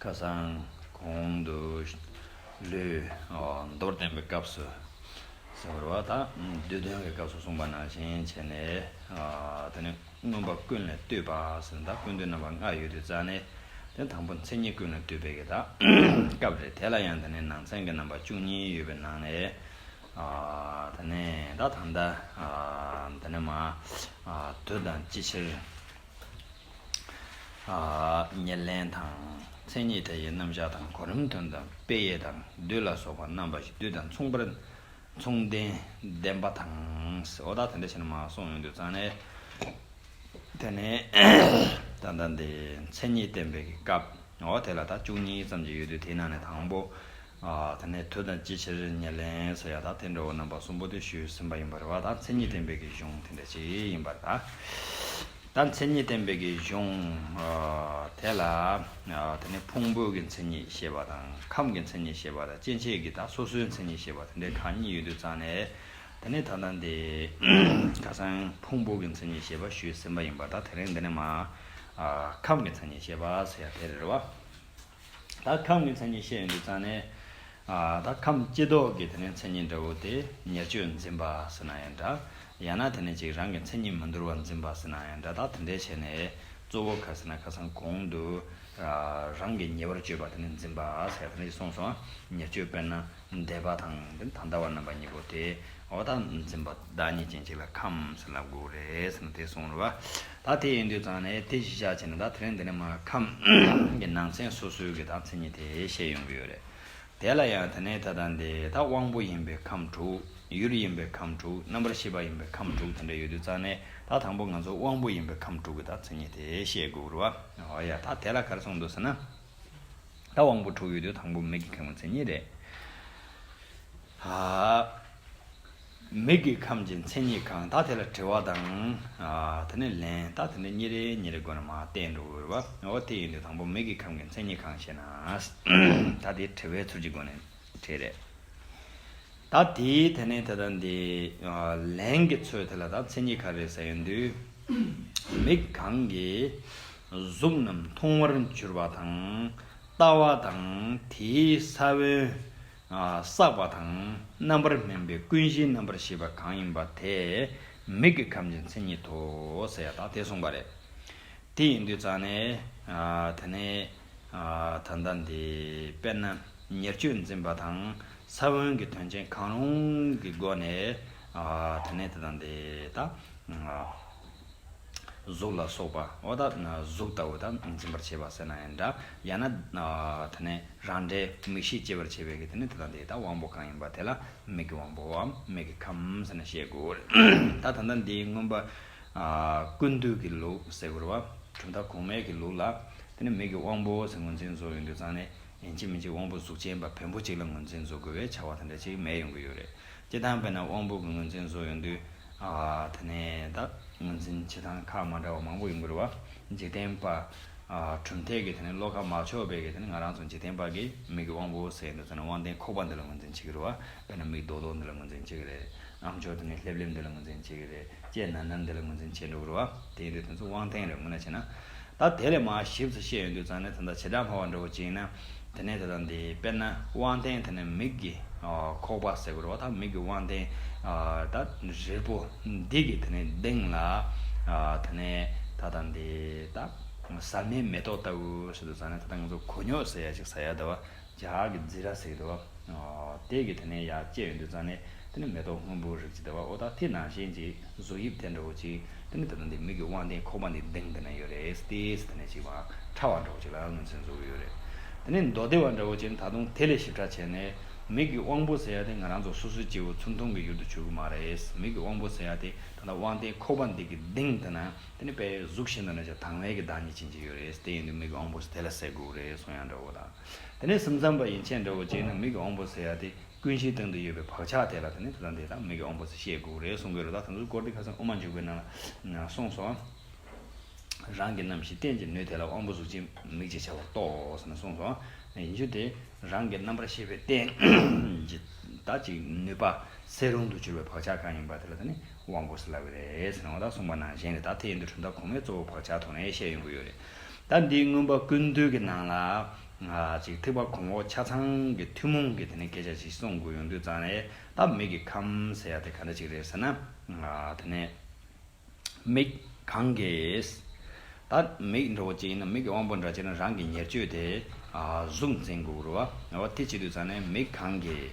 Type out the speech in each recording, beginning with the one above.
ཁ་སང་གོང་དུ་ལུས། མདོར་བསྟན་པའི་སྐབས་སུ་ཟེར་བ་དང་བསྡུས་དོན་གྱི་སྐབས་སུ་གསུངས་པ་ནང་བཞིན་བྱས་ནས། དེ་ནི་མངོན་པ་ཀུན་ལས་བཏུས་པ་ཟེར་ན་ཀུན་བཏུས་རྣམ་པ་ལྔ་ཡོད་དུས་རྩ་ནི་དེ་དང་པོ་མཚན་ཉིད་ཀུན་ལས་བཏུས་པའི་གི་དག་སྐབས་རེད་དེ་ལ་ཡང་དེ་ནི་ནང་ཚན་གྱི་རྣམ་པ་བཅུ་གཉིས་ཡོད་པའི་ནང་ནས་དེ་ནི་དག་དང། དེ་ནི་མ། དུ་དང་ཅི་ཕྱིར། ཉེར་ལེན་དང། མཚན་ཉིད་དེ་ཡི་རྣམ་གཞག་དང་གོ་རིམ་དོན་དམ་དཔེ་ཡས་དང་བདུད་ལ་སོགས་པ་རྣམ་པ་བཞི་བསྡུས་དང་མཚུངས་པར་མཚུངས་ལྡན་ལྡན་པ་དང། འོ་ད་དེ་འདྲ་བྱས་ན་མ་གསུངས་ཡོང་དུས་ཙང་ནས་དེ་ནས་ད་ལྟ་འདི་མཚན་ཉིད་བསྟན་པའི་སྐབས་འོ་དེ་ལ་ད་བཅུ་གཉིས་ཙམ་གྱི་ཡོད་དུས་དེའི་ནང་ནས་དང་པོ་དེ་ནས་དུས་དང་ཅི་ཕྱིར་ཉེར་ལེན་ཟེར་ཡང་ད་དེ་འདྲ་བོ་རྣམ་པ་གསུམ་པོ་དེ་ཞུས་ཟིན་པ་ཡིན་པར་བ་ད་མཚན་ཉིད་བསྟན་པའི་གཞུང་དེ་འདྲ་ཞིག་ཡིན་པར་ད། ད་མཚན་ཉིད་བསྟན་པའི་གཞུང་དེ་ལ་དེ་ནས་ཕུང་པོ་གི་མཚན་ཉིད་ཤེས་པ་དང་ཁམས་ཀྱི་མཚན་ཉིད་ཤེས་པ་དང་སྐྱེ་མཆེད་ཀྱི་དང་སོ་སོའི་མཚན་ཉིད་ཤེས་པ་དེ་འདྲའི་གང་ཉིད་ཡོད་དུ་བརྩམས་ནས་དེ་ནས་ད་ལྟ་འདི་ཁ་སང་ཕུང་པོ་གི་མཚན་ཉིད་ཤེས་པ་ཞུས་ཟིན་པ་ཡིན་པ་དང་དེ་རིང་འདི་ནས་མ་ཁམས་ཀྱི་མཚན་ཉིད་ཤེས་པ་ཟེར་ཡ་དེ་རེད་བ། ད་ཁམས་ཀྱི་མཚན་ཉིད་བཤད་ཡོད་འདུག་ཙང་ནས། ད་ཁམས་སྐྱེས་ལྡོག་གི་དེ་ནས་མཚན་ཉིད་འདྲ་བོ་དེ་ཉེར་སྤྱོད་འཛིན་པ་ཟེར་ན་ཡང་འདྲ། ཡང་ན་དེ་ནས་ཅིག་རང་གི་མཚན་ཉིད་མི་འདོར་བ་འཛིན་པ་ཟེར་ན་ཡང་འདྲ་ད་དེ་འདྲའི་བྱས་ནས་གཙོ་བོ་ག་ཟེར་ན་ཁ་སང་གོང་དུ། རང་གི་ཉེ་བར་སྤྱོད་པ་དེ་ནས་འཛིན་པ་ཟེར་ཡ་དེ་འདྲ་ཞིག་གསུངས་སོང་ཉེར་སྤྱོད་དཔེར་ན། འདས་པ་དང་དེ་ད་ལྟ་བར་རྣམ་པ་གཉིས་པོ་དེ་འོག་དག་འཛིན་པ་བདག་ཉིད་ཅན་གཅིག་ལ་ཁམས་ལ་དགུ་རེད་ཟེར་ན་དེ་གསུངས་རོགས། ད་དེ་ཡིན་དུས་ཙང་ནས་དེ་གཞི་བཞག་བྱས་ན་ད་དེ་རིང་འདི་ནས་མ་ཁམས་ཀྱི་ནང་ཚན་སོ་སོའི་གི་ད་མཚན་ཉིད་དེ་བཤད་ཡོང་གི་ཡོད་རེད། དེ་ལ་ཡང་དེ་ནས་ད་ལྟ་འདི་ད་དབང་པོ་ཡིན་པའི་ཁམས་དྲུག་ཡུལ་ཡིན་པའི་ཁམས་དྲུག་རྣམ་པར་ཤེས་པ་ཡིན་པའི་ཁམས་དྲུག་དེ་འདྲ་ཡོད་དུས་ཙང་ནས་ད་དང་པོ་ང་ཚོ་དབང་པོ་ཡིན་པའི་ཁམས་དྲུག་གི་ད་མཚན་ཉིད་དེ་བཤད་དགོས་རོགས། ཨོ་ཡ་ད་དེ་ལ་གར་སོང་འདུག་ཟེར་ན། ད་དབང་པོ་དྲུག་ཡོད་དུས་དང་པོ་མིག་གི་ཁམས་ངོ་མཚན་ཉིད་རེད། མིག་གི་ཁམས་ཀྱི་མཚན་ཉིད་གང་དག་དེ་ལ་དྲི་བ་དང། དེ་ནས་ལན། ད་དེ་འདྲ་གཉིས་རེ་གཉིས་རེ་དགོས་ན་མ་བསྟན་འགྲོ་འོས་པ། འོ་དེ་ཡིན་དུས་དང་པོ་མིག་གི་ཁམས་ཀྱི་མཚན་ཉིད་གང་ཞེ་ན། ད་དེ་དྲི་བའི་ཚུལ་གྱི་སྒོ་ནས་དྲིས། རེད། ད་དེ་དེ་ནས་དེ་ལྟར་འདི། ལན་གྱི་ཚོད་དེ་ལ་ད་མཚན་ཉིད་ག་རེ་ཟེར་ཡོད་དུས། མིག་གང་གི། གཟུགས་རྣམས་མཐོང་བར་འགྱུར་བ་དང། ལྟ་བ་དང་དེའི་ས་བོན། བསགས་པ་དང་རྣམ་པར་སྨིན་པའི་ཀུན་གཞིའི་རྣམ་པར་ཤེས་པ་གང་ཡིན་པ་དེ་མིག་གི་ཁམས་ཀྱི་མཚན་ཉིད་དོ་ཟེར་ཡ་དག་དེ་གསུངས་པ་རེད། དེ་ཡིན་དུས་ཙང་ནས་དེ་ནས་ད་ལྟ་འདི་དཔེར་ན་ཉེར་སྤྱོད་འཛིན་པ་དང་ས་བོན་གྱི་དོན་ཅན་གང་རུང་གི་སྒོ་ནས་དེ་ནས་དེ་དང་དེ་དག། གཟུགས་ལ་སོགས་པ་འོ་ད་གཟུགས་ལྟ་བུ་དང་འཛིན་པར་བྱེད་པ་སེར་སྣ་ཡང་འདྲ། ཡང་ན། དེ་ནས་རང་འདྲའི་མིག་ཤེས་སྐྱེད་པར་བྱེད་པའི་གེགས་དེ་ནི་དེ་དང་དེའི་དང་དབང་པོ་གང་ཡིན་པ་དེ་ལ་མིག་གི་དབང་པོ་བའམ་མིག་གི་ཁམས་ཟེར་ན་ཤེས་དགོས། ད་ད་ལྟ་འདིའི་མངོན་པ། ཀུན་འདུས་ཀྱི་ལུགས་ཟེར་བ། གྲུབ་མཐའ་གོང་མའི་གི་ལུགས་ལ། དེ་ནི་མིག་གི་དབང་པོ་ཟེར་ངོས་འཛིན་བཟོ་ཡོང་དུས་ཚང་ནས། གཅིག་མིན་གཅིག་དབང་པོ་གཟུགས་ཅན་པ་བེམ་པོ་གཅིག་ལ་ངོས་འཛིན་བཟོ་དགོས་པའི་བྱ་བ་དེ་འདྲ་གཅིག་མེད་ཡོང་གི་ཡོད་རེད། སྤྱི་དང་དཔེར་ན་དབང་པོ་གི་ངོས་འཛིན་བཟོ་ཡོང་དུས། ད་ནས་བདག་ངོས་འཛིན་བྱེད་སྟངས་ཁག་མ་འདྲ་བ་མང་པོ་ཡོང་གི་རེད་བ། འཇིག་རྟེན་པ། གྲུབ་མཐས་ཀྱི་བློ་ཁ་མ་ཕྱོགས་པས་ཀྱི་ང་རང་ཚོ་འཇིག་རྟེན་པ་ཀྱི་མིག་གི་དབང་པོ་ཟེར་ཡོང་དུས་ད་ནས་དབང་ལྡན་ཁོག་པ་འདི་ལ་ངོས་འཛིན་བྱེད་ཀྱི་རེད་བ། དཔེར་ན་མིག་རྡོག་རྡོག་འདི་ལ་ངོས་འཛིན་བྱེད་ཀྱི་རེད། ཨམ་ཅོག་དེ་ནས་ལྷེབ་ལྷེབ་འདི་ལ་ངོས་འཛིན་བྱེད་ཀྱི་རེད། ལྕེ་ནར་ནར་འདི་ལ་ངོས་འཛིན་བྱེད་འགྲོ་གི་རེད་བ། དེ་ཡིན་དུས་དེ་ཚོ་དབང་ལྡན་རེད་ངོ་ན་བྱས་ན། ད་དེ་ལས་མ་ཞིབ་ཚེ་ཤེས་ཡོན་དུད་ཚང་ནི་དེ་འདྲ་བྱེ་བྲག་འཕར་བ་འདྲ་བོ་ཅིག་ཡིན་ན། དེ་ནས་དེ་དང་དེའི་དཔེར་ན་དབང་ལྡན་དེ་ནི་མིག་གི་ཁོག་པ་ཟེར་དགོས་རོགས་ད་མིག་གི་དབང་ལྡན། ད་རིལ་པོ་འདི་གི་དེ་ནི་གདེངས་ལ། དེ་ནས་ད་དང་དེ་ད། ཟར་མའི་མེ་ཏོག་ལྟ་བུ་ཞིག་དུད་ཚང་ནི་ད་ད་ང་ཚོ་གོ་ཉོག་ཟེར་ཡ་ཅིག་ཟ་ཡ་ད་བ། ཇག་གི་རྫི་ར་ཟེགས་དོ། དེད་ཀྱི་དེ་ནས་ཡ་བཅད་ཡོད་འདུག་ཙང་ནས་དེ་ནས་མེ་ཏོག་སྔོན་པོ་རིགས་ཅིག་དེ་བ་འོ་ད་དེ་ནང་བཞིན་ཅིག་གཟུགས་དབྱིབས་དེ་འདྲ་བོ་ཅིག་དེ་ནས་ད་དུང་དེ་མིག་གི་དབང་ལྡན་ཁོག་པ་འདི་གདེང་འདི་ན་ཡོད་རེད་དེ་སེ་དེ་ནས་ཅིག་བང་ཁྲ་བ་འདྲ་བོ་ཅིག་ལ་ངོས་འཛིན་བཟོ་གི་ཡོད་རེད་དེ་ནས་མདོ་སྡེ་བ་འདྲ་བོ་ཅིག་ནི་ད་དུང་དེ་ལས་ཞིབ་ཕྲ་བྱས་ནས་མིག་གི་དབང་པོ་ཟེར་ཡ་དེ་ང་རང་ཚོ་སོ་སོའི་སྐྱེ་བོ་ཚུར་མཐོང་གི་ཡུལ་དུ་བྱུར་གི་མ་རེད་མིག་གི་དབང་པོ་ཟེར་ཡ་དེ་ད་ལྟ་དབང་ལྡན་ཁོག་པ་འདི་གི་གདེང་འདི་ན་དེ་ནས་པའི་གཟུགས་བཞི་འདི་ན་ཅིག་དྭངས་བའི་གི་བདག་ཉིད་ཅིག་ཅིག་ཡོད་རེད་དེ་ཡིན་དུས་མིག་གི་དབང་པོ་ཟེར་དེ་ལ་ཟེགས་དགོས་རེད་སོང་ཡ་འདྲ་བོ་དང། དེ་ནས་སེམས་ཙམ་པ་ཡན་ཆད་འདྲ་བོ་བྱས་ན་མིག་གི་ཨོང་པོ་སེ་ཡ་དེ་ཀུན་གཞིའི་སྟེང་དུ་ཡོད་པའི་བག་ཆགས་དེ་ལ་དེ་ནི་དེ་དང་དེ་དང་མིག་གི་ཨོང་པོ་སེ་ཤེས་དགོས་རེད་གསུང་གི་རེད་ད་དེ་ཚོ་སྐོར་དེ་ཁ་སང་དབུ་མ་འཇུག་པའི་ནང་ལ་གསུངས་སོང། རང་གི་རྣམ་ཤེས་རྟེན་གྱི་ནུས་དེ་ལ་ཨོང་པོ་གཟུགས་ཅན་མིག་ཅེས་བྱ་བར་རྟོགས་ཟེར་ནས་གསུངས་སོང། ཡིན་རྒྱུ་དེ་རང་གི་རྣམ་པར་ཤེས་པའི་རྟེན་གྱི་ད་ཅིག་ནུས་པ་སེལ་རུང་དུ་གྱུར་པའི་བག་ཆགས་གང་ཡིན་པ་དེ་ལ་དེ་ནི་ཨོང་པོ་སེ་ལབ་རེད་ཟེར་ནའོ་ད་གསུངས་པ་ནང་བཞིན་རེད་ད་དེ་ཡིན་དུས་གྲུབ་མཐའ་གོང་མའི་གཙོ་བོ་བག་ཆགས་དོགས་ནས་བཤད་ཡོང་གི་ཡོད་རེད། ཟླ་འདིའི་དངོས་པོ་ཀུན་བཏུས་ཀྱི་ནང་ལ། ཐིགས་པ་གོང་འོག་ཆ་ཚང་གི་ཐུན་མོང་གི་དེ་ནས་སྐད་ཆ་ཞིག་གསུང་དགོས་ཡོང་དུས་ཙང་རེད་ད། མིག་གི་ཁམས་ཟེར་ཡ་དེ་ག་འདྲ་ཞིག་རེད་ཟེར་ན། དེ་ནས། མིག་གང་གིས། ད་མིག་འགྲོ་བོ་གཅིག་ཡིན་ན་མིག་གི་དབང་པོ་འདྲ་བྱས་ན་རང་གི་ཉེར་སྤྱོད་དེ། གཟུགས་འཛིན་དགོས་རུ་བ། དེ་བྱེད་དུས་ཙང་ནས་མིག་གང་གིས།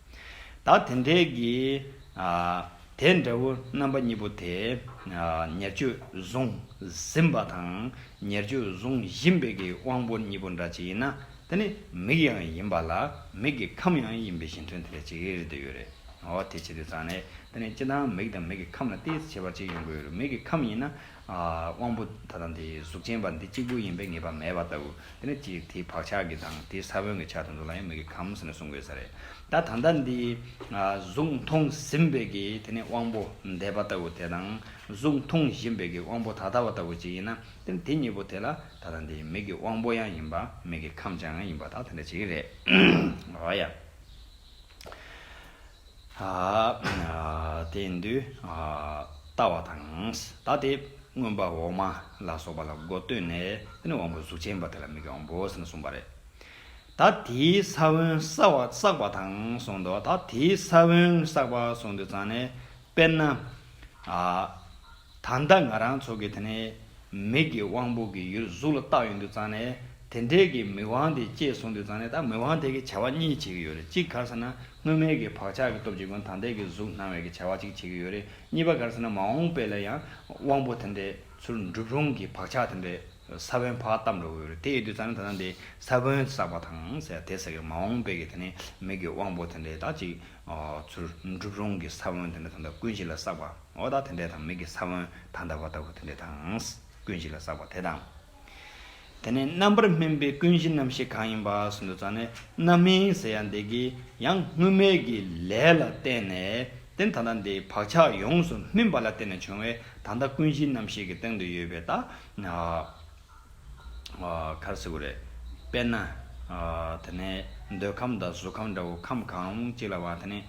ད་དེ་འདྲའི་གི། དེ་འདྲ་བོ་རྣམ་པ་གཉིས་པོ་དེ། ཉེར་སྤྱོད་གཟུང་ཟིན་པ་དང་ཉེར་སྤྱོད་གཟུང་བཞིན་པའི་གི་དབང་པོ་གཉིས་པོ་འདྲ་ཅིག་ཡིན་ན་དེ་ནི་མིག་ཡང་ཡིན་པ་ལ་མིག་གི་ཁམས་ཡང་ཡིན་པའི་བཞིན་དོན་དེ་འདྲ་ཅིག་རེད་འདོད་ཡོད་རེད། འོ་དེ་བྱེད་དུས་ཙང་ནས་དེ་ནི་སྤྱི་དང་མིག་དང་མིག་གི་ཁམས་ལ་ཏིས་བྱེད་པ་ཅིག་ཡོང་གི་ཡོད་རེད་མིག་གི་ཁམས་ཡིན་ན་དབང་པོ་ད་དང་དེའི་གཟུགས་ཅན་པ་འདི་གཅིག་པུ་ཡིན་པའི་ངེས་པ་མེད་པ་ལྟ་བུ། དེ་ནི་དེའི་དེའི་བག་ཆགས་ཀྱི་དང་དེའི་ས་བོན་གྱི་ཆ་དང་དུ་ལ་ཡང་མི་དགོས་གམ་ཟེར་ནས་གསུང་དགོས་ས་རེད། ད་ད་ལྟ་འདི་གཟུགས་མཐོང་ཟིན་པའི་ཀྱི་དེ་ནི་དབང་པོ་འདས་པ་ལྟ་བུ་དེ་དང་གཟུགས་མཐོང་བཞིན་པའི་ཀྱི་དབང་པོ་ད་ལྟ་བ་ལྟ་བུ་ཅིག་ཡིན་ན་དེ་ནི་དེ་གཉིས་པོ་དེ་ལ་ད་དང་དེའི་མིག་གི་དབང་པོ་ཡང་ཡིན་པ་མིག་གི་ཁམས་ཀྱང་ཡིན་པ་དང་དེ་འདྲ་ཅིག་རེད། དེ་འདུལ་བལྟ་བ་དང། ད་དེ་མངོན་པ་འོག་མ་ལ་སོགས་པ་ལ་སྒོ་གཏོད་ནས་དེ་ནི་དབང་པོའི་གཟུགས་ཅན་པ་དེ་ལ་མིག་གི་དབང་པོ་ཟེར་ནས་གསུངས་པ་རེད། ད་དེའི་ས་བོན་བསགས་པ་དང་གསུངས་ཏོ། ད་དེའི་ས་བོན་བསགས་པ་གསུངས་དུས་ཙང་ནས་དཔེར་ན། ད་ལྟ་ང་རང་ཚོ་གི་དེ་ནས་མིག་གི་དབང་པོ་གི་ཡུལ་གཟུགས་ལ་བཏགས་ཡོད་འདུག་ཙང་ནས་དེ་འདྲའི་གི་མིག་དབང་དེ་སྐྱེས་གསུངས་འདུག་ཙང་ནས་ད་མིག་དབང་དེ་གི་བྱ་བ་གཉིས་བྱེད་གི་ཡོད་རེད་གཅིག་གར་ཟེར་ན་དངོས་མེད་གི་བག་ཆགས་གི་སྟོབས་ཀྱིས་ཀུན་ད་ལྟའི་གི་གཟུགས་སྣང་བའི་གི་བྱ་བ་གཅིག་བྱེད་གི་ཡོད་རེད་གཉིས་པ་གར་ཟེར་ན་མ་འོངས་པའི་ལ་ཡང་དབང་པོ་དེ་འདྲའི་ཚུལ་འགྲུབ་རུང་གི་བག་ཆགས་དེ་འདྲའི་ས་བོན་བག་བཏབ་འགྲོ་གི་ཡོད་རེད་དེ་ཡོད་དུས་ཙང་ནས་ད་ལྟ་འདི་ས་བོན་བསགས་པ་དང་ཟེར་དེ་ཟེར་གི་མ་འོངས་པའི་གི་དེ་ནས་མིག་གི་དབང་པོ་དེ་འདྲའི་ད་གཅིག་ཚུལ་འགྲུབ་རུང་གི་ས་བོན་དེ་འདྲ་ད་ལྟ་ཀུན་གཞི་ལ་བསགས་པ། འོག་དག་དེ་འདྲས་དང་མིག་གི་ས་བོན་དག་འདར་བ་ལྟ་བུ་དེ་འདྲས་དང། ཀུན་གཞི་ལ་བསགས་པ་དེ་དང། དེ་ནས་རྣམ་པར་སྨིན་པའི་ཀུན་གཞི་རྣམ་ཤེས་གང་ཡིན་པ་སུ་འདུག་ཙང་ནས་རྣམ་སྨིན་ཟེར་ཡང་འདས་ཀྱི་ཡང་སྔོན་མེད་ཀྱི་ལས་ལ་བརྟེན་ནས་རྟེན་ད་ལྟ་འདིའི་བག་ཆགས་ཡོངས་སུ་སྨིན་པ་ལ་བརྟེན་ནས་བྱུང་བའི་ད་ལྟ་ཀུན་གཞི་རྣམ་ཤེས་ཀྱི་སྟེང་དུ་ཡོད་པའི་ད་གར་བཟོ་གི་རེད། དཔེར་ན། དེ་ནས་འདོད་ཁམས་དང་གཟུགས་ཁམས་འདྲ་བོ་ཁམས་གང་ཅིག་ལ་བ་དེ་ནས།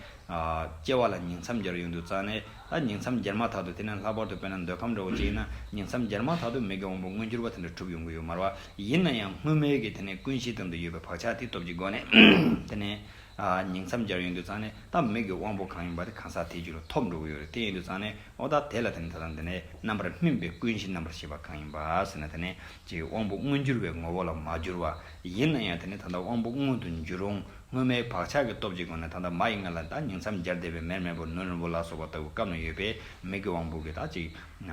སྐྱེ་བ་ལ་ཉིང་མཚམས་བརྒྱར་ཡོང་དུས་རྩ་ནས་ད་ཉིང་མཚམས་བརྒྱར་མ་ཐག་ཏུ་དེ་ནས་ལྷག་པར་དུ་དཔེར་ན་འདོད་ཁམས་འདྲ་བོ་ཅིག་ཡིན་ན་ཉིང་མཚམས་བརྒྱར་མ་ཐག་ཏུ་མིག་གི་དབང་པོ་མངོན་གྱུར་པ་དེ་འདྲ་གྲུབ་ཡོང་གི་ཡོད་མར་བ་ཡིན་ན་ཡང་སྔོན་མེད་ཀྱི་དེ་ནས་ཀུན་གཞིའི་སྟེང་དུ་ཡོད་པའི་བག་ཆགས་དེའི་སྟོབས་ཀྱི་སྒོ་ནས། དེ་ནས། ཉིང་མཚམས་བརྒྱར་ཡོང་དུས་རྩ་ནས་ད་མིག་གི་དབང་པོ་གང་ཡིན་པ་དེ་གང་ཟག་དེའི་རྒྱུད་ལ་ཐོབ་འགྲོ་གི་ཡོད་རེད་དེ་ཡིན་དུས་རྩ་ནས། ཨོ་ད་དེ་ལ་དེ་ནི་ད་ལྟ་འདི་ནས་རྣམ་པར་སྨིན་པའི་ཀུན་གཞི་རྣམ་པར་ཤེས་པ་གང་ཡིན་པ་ཟེར་ན་དེ་ནི་ཀྱི་དབང་པོ་མངོན་གྱུར་བའི་ངོ་བོ་ལ་མ་གྱུར་བ་ཡིན་ན་ཡང་དེ་ནི་ད་ལྟ་དབང་པོ་མངོན་དུ་འགྱུར་རུང་སྔོན་མའི་བག་ཆགས་ཀྱི་སྟོབས་ཀྱི་སྒོ་ནས་ད་ལྟ་མ་ཡི་མངལ་ལ་བདག་ཉིད་མཚམས་སྦྱར་བདེ་བའི་མེར་མེར་པོ་ནུ་རིང་པོ་ལ་སོགས་པ་ལྟ་བུ་སྐབས་ན་ཡོད་པས་མིག་གི་དབང་པོ་གྱི་དག་ཅིག།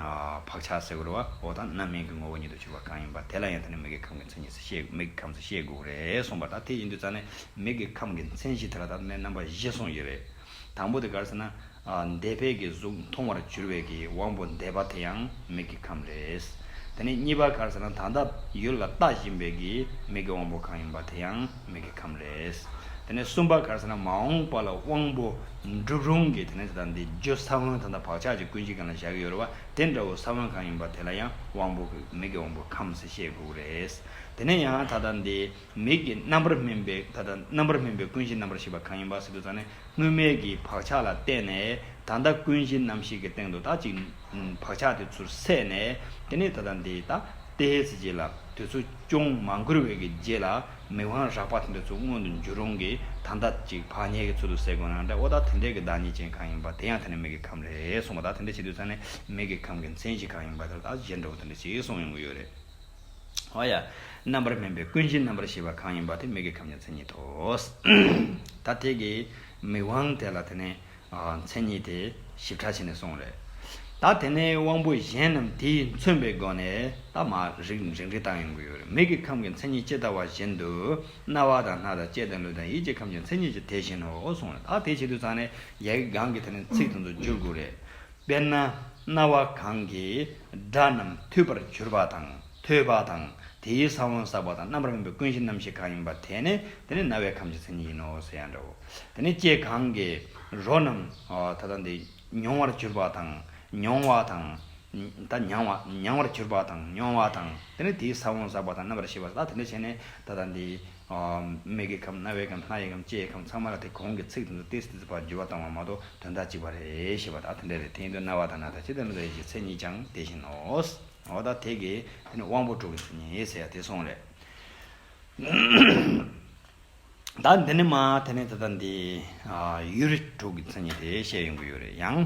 བག་ཆགས་སེ་གོལ་བའོ་ད་རྣམ་སྨིན་གྱི་ངོ་བོ་ཉིད་དུ་གྱུར་པ་གང་ཡིན་པ་དེ་ལ་ཡང་དེ་ནི་མིག་གི་ཁམས་ཀྱི་མཚན་ཉིད་སེ་མིག་གི་ཁམས་སེ་ཤེས་དགོས་རེད་གསུངས་པ་ད་དེ་ཡིན་དུས་ད་ནི་མིག་གི་ཁམས་ཀྱི་མཚན་གཞི་དེ་ལ་ད་ནི་རྣམ་པ་བཞི་གསུངས་ཀྱི་རེད། དང་པོ་དེ་གར་ཟེར་ན། འདས་འཕེལ་གྱི་གཟུགས་མཐོང་བར་གྱུར་བའི་གི་དབང་པོ་འདས་པ་དེ་ཡང་མིག་གི་ཁམས་རེད། དེ་ནས་གཉིས་པ་གར་ཟེར་ན་ད་ལྟ་ཡུལ་ལ་ལྟ་བཞིན་པའི་གི་མིག་གི་དབང་པོ་གང་ཡིན་པ་དེ་ཡང་མིག་གི་ཁམས་རེད། དེ་ནས་གསུམ་པ་གར་ཟེར་ན་མ་འོངས་པ་ལ་དབང་པོ་འགྲུབ་རུང་གི་དེ་ནས་ད་ལྟ་འདི་རྒྱུ་ས་བོན་ད་ལྟ་བག་ཆགས་ཀྱི་ཀུན་སྤྱི་གང་ལ་བཞག་གི་ཡོད་རེད་བ་དེ་འདྲ་བོ་ས་བོན་གང་ཡིན་པ་དེ་ལ་ཡང་དབང་པོ་གི་མིག་གི་དབང་པོ་ཁམས་ཞེས་བསྒུགས་རེད། དེ་ནས་ཡང་ད་ལྟ་འདི། མིག་གི་རྣམ་པར་སྨིན་པའི་ད་ལྟ་རྣམ་པར་སྨིན་པའི་ཀུན་གཞི་རྣམ་པར་ཤེས་པ་གང་ཡིན་པ་སྲིད་དུ་བརྩམས་ནས་དངོས་མེད་ཀྱི་བག་ཆགས་ལ་བརྟེན་ནས་ད་ལྟ་ཀུན་གཞི་རྣམ་ཤེས་ཀྱི་སྟེང་དུ་དག་ཅིག་བག་ཆགས་དེ་ཚུར་སད་ནས་དེ་ནི་ད་ལྟ་འདི་ལྟ་སྟེ་ཧེ་ཙི་རྗེས་ལ་དུས་ཚོད་ཅུང་མ་འགོར་བའི་ཀྱི་རྗེས་ལ་མིག་དབང་རག་པ་དེ་འདྲ་ཚུར་མངོན་དུ་འགྱུར་རུང་གི་ད་ལྟ་ཅིག་བག་ཉལ་གྱི་ཚུལ་དུ་སད་དགོས་ན་འདྲ་བོ་ད་དེ་འདྲའི་ཀྱི་བདག་ཉིད་ཅན་གང་ཡིན་པ་དེ་ཡང་དེ་ནི་མིག་གི་ཁམས་རེད་གསུངས་པ་ད་དེ་འདྲ་བྱེད་དུས་བརྩམས་ནས་མིག་གི་ཁམས་ཀྱི་མཚན་གཞི་གང་ཡིན་པ་དེ་ལ་ད་གཞན་འདྲ་བོ་དེ་འདྲ་ཞིག་གསུངས་ཡོང་གི་ཡོད་རེད། ཨོ་ཡ། རྣམ་པར་སྨིན་པའི་ཀུན་གཞི་རྣམ་པར་ཤེས་པ་གང་ཡིན་པ་དེ་མིག་གི་ཁམས་ཀྱི་མཚན་ཉིད་དོ། ད་དེ་གི་མིག་དབང་དེ་ལ་དེ་ནས་མཚན་ཉིད་དེ་ཞིབ་ཕྲ་བྱས་ནས་གསུངས་རེད། ད་དེ་ནས་དབང་པོ་གཞན་རྣམས་དེས་མཚོན་པའི་སྒོ་ནས་ད་མ་རིག་འབྲིང་རིག་དག་ཡོང་གི་ཡོད་རེད། མིག་གི་ཁམས་ཀྱི་མཚན་ཉིད་ཇི་ལྟ་བ་བཞིན་དུ། རྣ་བ་དང་སྣ་དང་ལྕེ་དང་ལུས་དང་ཡིད་ཀྱི་ཁམས་ཀྱི་མཚན་ཉིད་ཀྱི་དེ་བཞིན་ནོ་གསུངས་རེད། ད་དེ་བྱེད་དུ་ཚང་ནས་རྒྱལ་ཀའི་སྒང་གི་དེ་ནས་ཚིག་དེ་ཚོ་བསྒྱུར་དགོས་རེད། དཔེར་ན་རྣ་བ་གང་གིས་སྒྲ་རྣམས་ཐོས་པར་གྱུར་པ་དང་ཐོས་པ་དང་དེའི་ས་བོན་བསགས་པ་དང་རྣམ་པར་སྨིན་པའི་ཀུན་གཞི་རྣམ་ཤེས་གང་ཡིན་པ་དེ་ནི་དེ་ནི་རྣ་བའི་ཁམས་ཀྱི་མཚན་ཉིད་ཡིན་ནོ་ཟེར་ཡང་འདྲའོ། དེ་ནི་ལྕེ་གང་གིས་རོ་རྣམས་ད་ལྟ་འདི་མྱོང་བར་གྱུར་པ་དང་མྱོང་བ་དང། ད་མྱང་བར་གྱུར་པ་དང་མྱོང་བ་དང་དེ་ནི་དེའི་ས་བོན་བསགས་པ་དང་རྣམ་པར་ཤེས་པ་ལ་དེ་འདྲ་བྱས་ནས་ད་ལྟ་འདི་མིག་གི་ཁམས་རྣ་བའི་ཁམས་སྣ་ཡི་ཁམས་ལྕེའི་ཁམས་ཚང་མ་ལ་དེ་གོང་གི་ཚིག་དེ་ཚོ་ཏིས་ཏིས་བར་འགྱུར་བ་བཏང་བ་མ་གཏོགས་དོན་དག་གཅིག་པ་རེད་ཞེས་པ་དག་དེ་འདྲ་རེད་དེ་ཡིན་དུས་རྣ་བ་དང་སྣ་དང་ལྕེ་དང་མིག་ལ་ཡིད་ཀྱི་མཚན་ཉིད་ཀྱང་དེ་བཞིན་ནོ། འོ་ད་དེ་གི་དེ་ནི་དབང་པོ་དྲུག་གི་མཚན་ཉིད་ཟེར་ཡ་དེ་སོང་རེད། ད་འདི་ནི་མ་དེ་ནི་ད་ལྟ་འདི་ཡུལ་དྲུག་གི་མཚན་ཉིད་དེ་བཤད་ཡོང་གི་ཡོད་རེད་ཡང།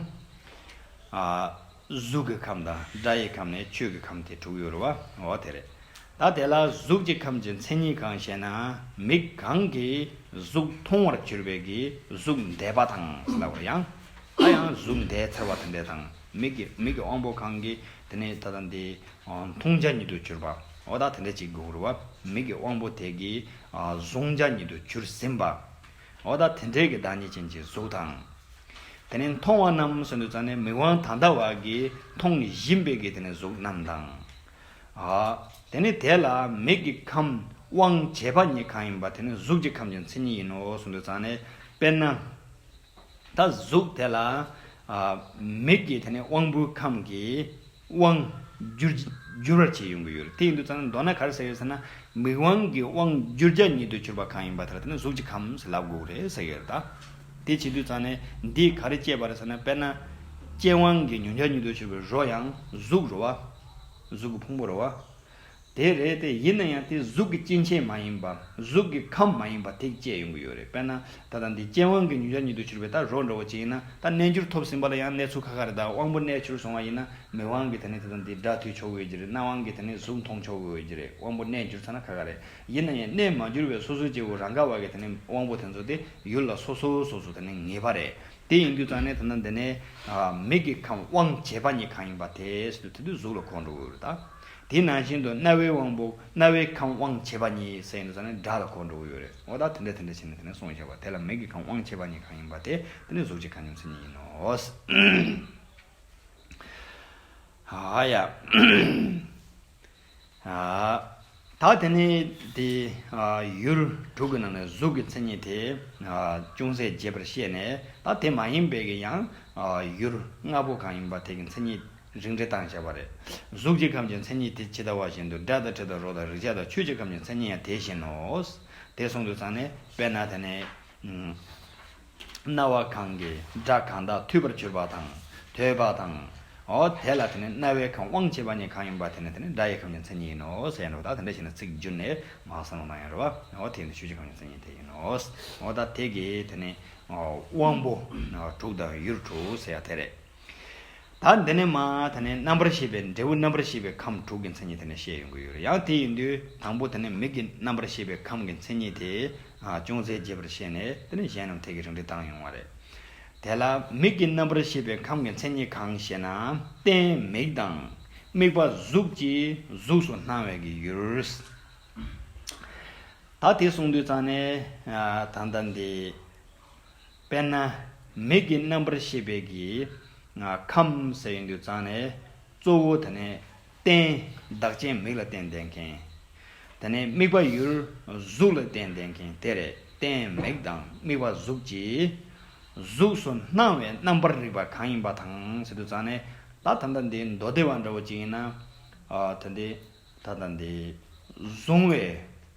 གཟུགས་ཀྱི་ཁམས་དང་སྒྲ་ཡི་ཁམས་ནས་ཆོས་ཀྱི་ཁམས་ཏེ་དྲུག་ཡོད་རོ། འོ་དེ་རེད། ད་དེ་ལ་གཟུགས་ཀྱི་ཁམས་ཀྱི་མཚན་ཉིད་གང་ཞེ་ན། མིག་གང་གིས་གཟུགས་མཐོང་བར་གྱུར་པའི་གིས་གཟུགས་འདས་པ་དང་ཟླ་བར་ཡང། ད་ཡང་གཟུགས་འདས་ཚེར་བ་དང་འདས་དང། མིག་གི་མིག་གི་དབང་པོ་གང་གིས་དེ་ནི་ད་དང་འདི། མཐོང་བྱ་ཉིད་དུ་གྱུར་པ། འོ་ད་དེ་འདྲ་ཅིག་གུ་རུ་བ། མིག་གི་དབང་པོ་དེ་གིས་གཟུང་བྱ་ཉིད་དུ་གྱུར་ཟིན་པ། འོ་ད་དེ་འབྲེལ་གྱི་བདག་ཉིད་ཅན་གྱི་གཟུགས་དང། དེ་ནས་མཐོང་བ་རྣམས་སུ་འདུ་ཙམ་ནས་མིག་དབང་ད་ལྟ་བ་གིས་མཐོང་ནས་བཞིན་པའི་གིས་དེ་ནས་གཟུགས་རྣམས་དང། དེ་ནས་དེ་ལ་མིག་གི་ཁམས་དབང་བྱེད་པ་ཉིད་གང་ཡིན་པ་དེ་ནི་གཟུགས་ཀྱི་ཁམས་ཀྱི་མཚན་ཉིད་ཡིན་ནོ་སུ་འདུ་ཙམ་ནས་དཔེར་ན། ད་གཟུགས་དེ་ལ། མིག་གིས་དེ་ནས་དབང་པོའི་ཁམས་ཀྱིས། དབང། བསྒྱུར། བསྒྱུར་བར་བྱས་ཡོང་གི་ཡོད་རེད། དེ་ཡིན་དུས་ཙང་མདོར་ན་གར་ཟེར་ཡོད་ཟེར་ན། མིག་དབང་གི་དབང། བསྒྱུར་རྒྱ་ཉིད་དུ་གྱུར་པ་གང་ཡིན་པ་དེར་བརྟེན་གཟུགས་ཀྱི་ཁམས་ལ་དགོས་རེད་ཟེར་གི་རེད་ད། དེ་བྱེད་དུས་ཙང་ནས་འདིས་ག་རེ་བསྐྱེད་པ་རེད་ཟེར་ན་དཔེར་ན། རྐྱེན་དབང་གིས་མྱོང་རྒྱ་ཉིད་དུ་གྱུར་པའི་རོ་ཡང། གཟུགས་རོ་བ། གཟུགས་ཀྱི་ཕུང་པོ་རོ་བ། དེ་རེད་དེ་ཡིན་ན་ཡང་དེ་གཟུགས་ཀྱི་སྐྱེ་མཆེད་མ་ཡིན་པར་གཟུགས་ཀྱི་ཁམས་མ་ཡིན་པར་ཐེག་བཅས་ཡོང་གི་ཡོད་རེད་དཔེར་ན་ད་ལྟ་འདི་རྐྱེན་དབང་གིས་ཉུང་ཤར་ཉིད་དུ་གྱུར་པའི་ད་རོག་འདྲ་བོ་ཅིག་ཡིན་ན་ད་གནས་འགྱུར་ཐོབ་ཟིན་པ་ལ་ཡང་གནས་ཚུལ་ཁ་ཁ་རེད་ད་དབང་པོ་གནས་གྱུར་སོང་བ་ཡིན་ན་མིག་དབང་གིས་དེ་ནི་ད་ལྟ་འདི་སྒྲ་ཐོས་ཆོག་གི་ཡོད་ཀྱི་རེད་རྣ་དབང་གིས་དེ་ནི་གཟུགས་མཐོང་ཆོག་གི་ཡོད་ཀྱི་རེད་དབང་པོ་གནས་འགྱུར་ཚར་ན་ཁ་ཁ་རེད་ཡིན་ན་ཡང་གནས་མ་གྱུར་བའི་སོ་སོའི་སྐྱེ་བོ་རང་ག་བ་གིས་དེ་ནི་དབང་པོ་དེ་ཚོ་དེ་ཡུལ་ལ་སོ་སོའི་སོ་སོ་དེ་ནི་ངེས་པ་རེད་དེ་ཡིན་དུས་ཙང་ནས་ད་ནི་འདི་ནི་མིག་གི་ཁམས་དབང་བྱེད་པ་ཉིད་གང་ཡིན་པ་དེ་སྲིད་དུ་དེ་དུས་གཟུགས་ལ་གོ་འགྲོ་གི་ཡོད་རེད་ད། དེ་ནང་བཞིན་དུ་རྣ་བའི་དབང་པོ་རྣ་བའི་ཁམས་དབང་བྱེད་པ་ཉིད་ཟེར་ནས་སོང་ནས་སྒྲ་ལ་གོ་འགྲོ་གི་ཡོད་རེད་འོ་ད་དེ་འདྲ་དེ་འདྲ་བྱས་ནས་དེ་ནས་སོང་བཞག་པ་དེ་ལ་མིག་གི་ཁམས་དབང་བྱེད་པ་ཉིད་གང་ཡིན་པ་དེ་དེ་ནི་གཟུགས་ཀྱི་ཁམས་ཉམས་སུ་ཉིད་ཡིན་ནོ། ད་དེ་ནས་དེ་ཡུལ་དྲུག་གི་ནང་ནས་གཟུགས་ཀྱི་མཚན་ཉིད་དེ་ཅུང་ཟད་རྒྱས་པར་བཤད་ནས་ད་དེ་མ་ཡིན་པའི་ཀྱང་ཡུལ་ལྔ་པོ་གང་ཡིན་པ་དེ་ཀྱི་མཚན་ཉིད་རིགས་འགྲེ་སྟངས་བྱས་པ་རེད། གཟུགས་ཀྱི་ཁམས་ཀྱི་མཚན་ཉིད་དེ་ཇི་ལྟ་བ་བཞིན་དུ་སྒྲ་དང་དྲི་དང་རོ་དང་རེག་བྱ་དང་ཆོས་ཀྱི་ཁམས་ཀྱི་མཚན་ཉིད་ཡང་དེ་བཞིན་ནོ། དེ་གསུང་དུ་ཚང་ནས་དཔེར་ན་དེ་ནི། རྣ་བ་གང་གིས་སྒྲ་གང་དག་ཐོས་པར་གྱུར་པ་དང། ཐོས་པ་དང། དེ་ལ་དེ་ནི་རྣ་བའི་ཁམས་དབང་བྱེད་པ་ཉིད་གང་ཡིན་པ་དེ་ནི་དེ་ནི་སྒྲ་ཡི་ཁམས་ཀྱི་མཚན་ཉིད་ཡིན་ནོ། ཞེས་ཡང་འགྲོ་བ་དག་དེ་འདྲ་བཞིན་དུ་ཚིག་བསྒྱུར་ནས་མ་གསུངས་ན་མ་ཡིན་རུང་བ། དེ་ཡིན་དུ་ཆོས་ཀྱི་ཁམས་ཀྱི་མཚན་ཉིད་དེ་ཡིན་ནོ། ད་དེ་གའི་དེ་ནི། དབང་པོ་དྲུག་དང་ཡུལ་དྲུག་ཟེར་བ་དེ་རེད། ད་འདི་ནས་མ་ད་ནི་རྣམ་པར་ཤེས་པའི་འབྲས་བུ་རྣམ་པར་ཤེས་པའི་ཁམས་དྲུག་གི་མཚན་ཉིད་དེ་ནས་བཤད་ཡོང་གི་ཡོད་རེད་ཡང་དེ་ཡིན་དུས་དང་པོ་དེ་ནས་མིག་གི་རྣམ་པར་ཤེས་པའི་ཁམས་ཀྱི་མཚན་ཉིད་དེ་ཅུང་ཟད་རྒྱས་པར་བཤད་ནས་དེ་ནས་གཞན་རྣམས་ཐད་ཀའི་རིགས་འགྲེ་བཏང་ཡོང་བ་རེད། དེ་ལ་མིག་གི་རྣམ་པར་ཤེས་པའི་ཁམས་ཀྱི་མཚན་ཉིད་གང་ཞེ་ན་རྟེན་མིག་དང། དམིགས་པ་གཟུགས་ཀྱིས་གཟུགས་སུ་སྣང་བས་ཀྱི་ཡུལ། ད་དེ་གསུངས་དུས་ཙང་ནས་ད་ལྟ་འདི། དཔེར་ན། མིག་གི་རྣམ་པར་ཤེས་པའི་གི། ཁམས་ཟེར་ཡོད་འདུག་ཙང་ནས། གཙོ་བོ་དེ་ནས། རྟེན། བདག་ཅན་མིག་ལ་རྟེན་འདེད་མཁན། དེ་ནས་དམིགས་པ་ཡུལ། གཟུགས་ལ་རྟེན་འདེད་མཁན་དེ་རེད་རྟེན་མིག་དང་དམིགས་པ་གཟུགས་ཀྱི། གཟུགས་སུ་སྣང་བའི་རྣམ་པར་རིག་པ་གང་ཡིན་པ་དང་ཟེར་འདུག་ཙང་ནས། ད་ད་ལྟ་འདི་མདོ་སྡེ་བ་འདྲ་བོ་ཅིག་ཡིན་ན། ད་འདི། ད་ད་འདི། བཟུང་བའི།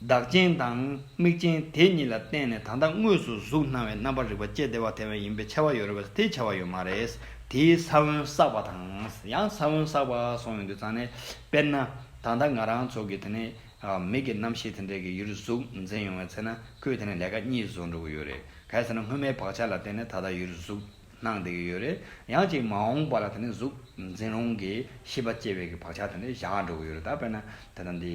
བདག་རྐྱེན་དང་དམིགས་རྐྱེན་དེ་གཉིས་ལ་བརྟེན་ནས་ད་ལྟ་དངོས་སུ་གཟུགས་སྣང་བའི་རྣམ་པར་རིག་པ་སྐྱེ་བདེ་བ་དེ་བས་ཡིན་པའི་ཆེ་བ་ཡོད་རེད་པས་དེའི་ཆེ་བ་ཡོད་མ་རེད། དེའི་ས་བོན་བསགས་པ་དང་ཡང་ས་བོན་བསགས་པ་སོང་ཡོད་དུས་ཙང་ནས་དཔེར་ན། ད་ལྟ་ང་རང་ཚོ་གི་དེ་ནས་མིག་གི་རྣམ་ཤེས་དེ་འདྲས་ཀྱི་ཡུལ་གཟུགས་འཛིན་ཡོང་བའི་ཚེ་ན་ཁོས་དེ་ནས་ལས་ཀ་གཉིས་བཟོ་འགྲོ་གི་ཡོད་རེད། གལ་སྲིད་ན་སྔོན་མའི་བག་ཆགས་ལ་བརྟེན་ནས་ད་ལྟ་ཡུལ་གཟུགས་སྣང་བདེ་གི་ཡོད་རེད། ཡང་ཅིག་མ་འོངས་པ་ལ་དེ་ནས་གཟུགས་འཛིན་རུང་གི་ཤེས་པ་སྐྱེ་བའི་གི་བག་ཆགས་དེ་འདྲས་བཞག་འགྲོ་གི་ཡོད་རེད་ད་དཔེར་ན་དེ་ལྟ་འདི།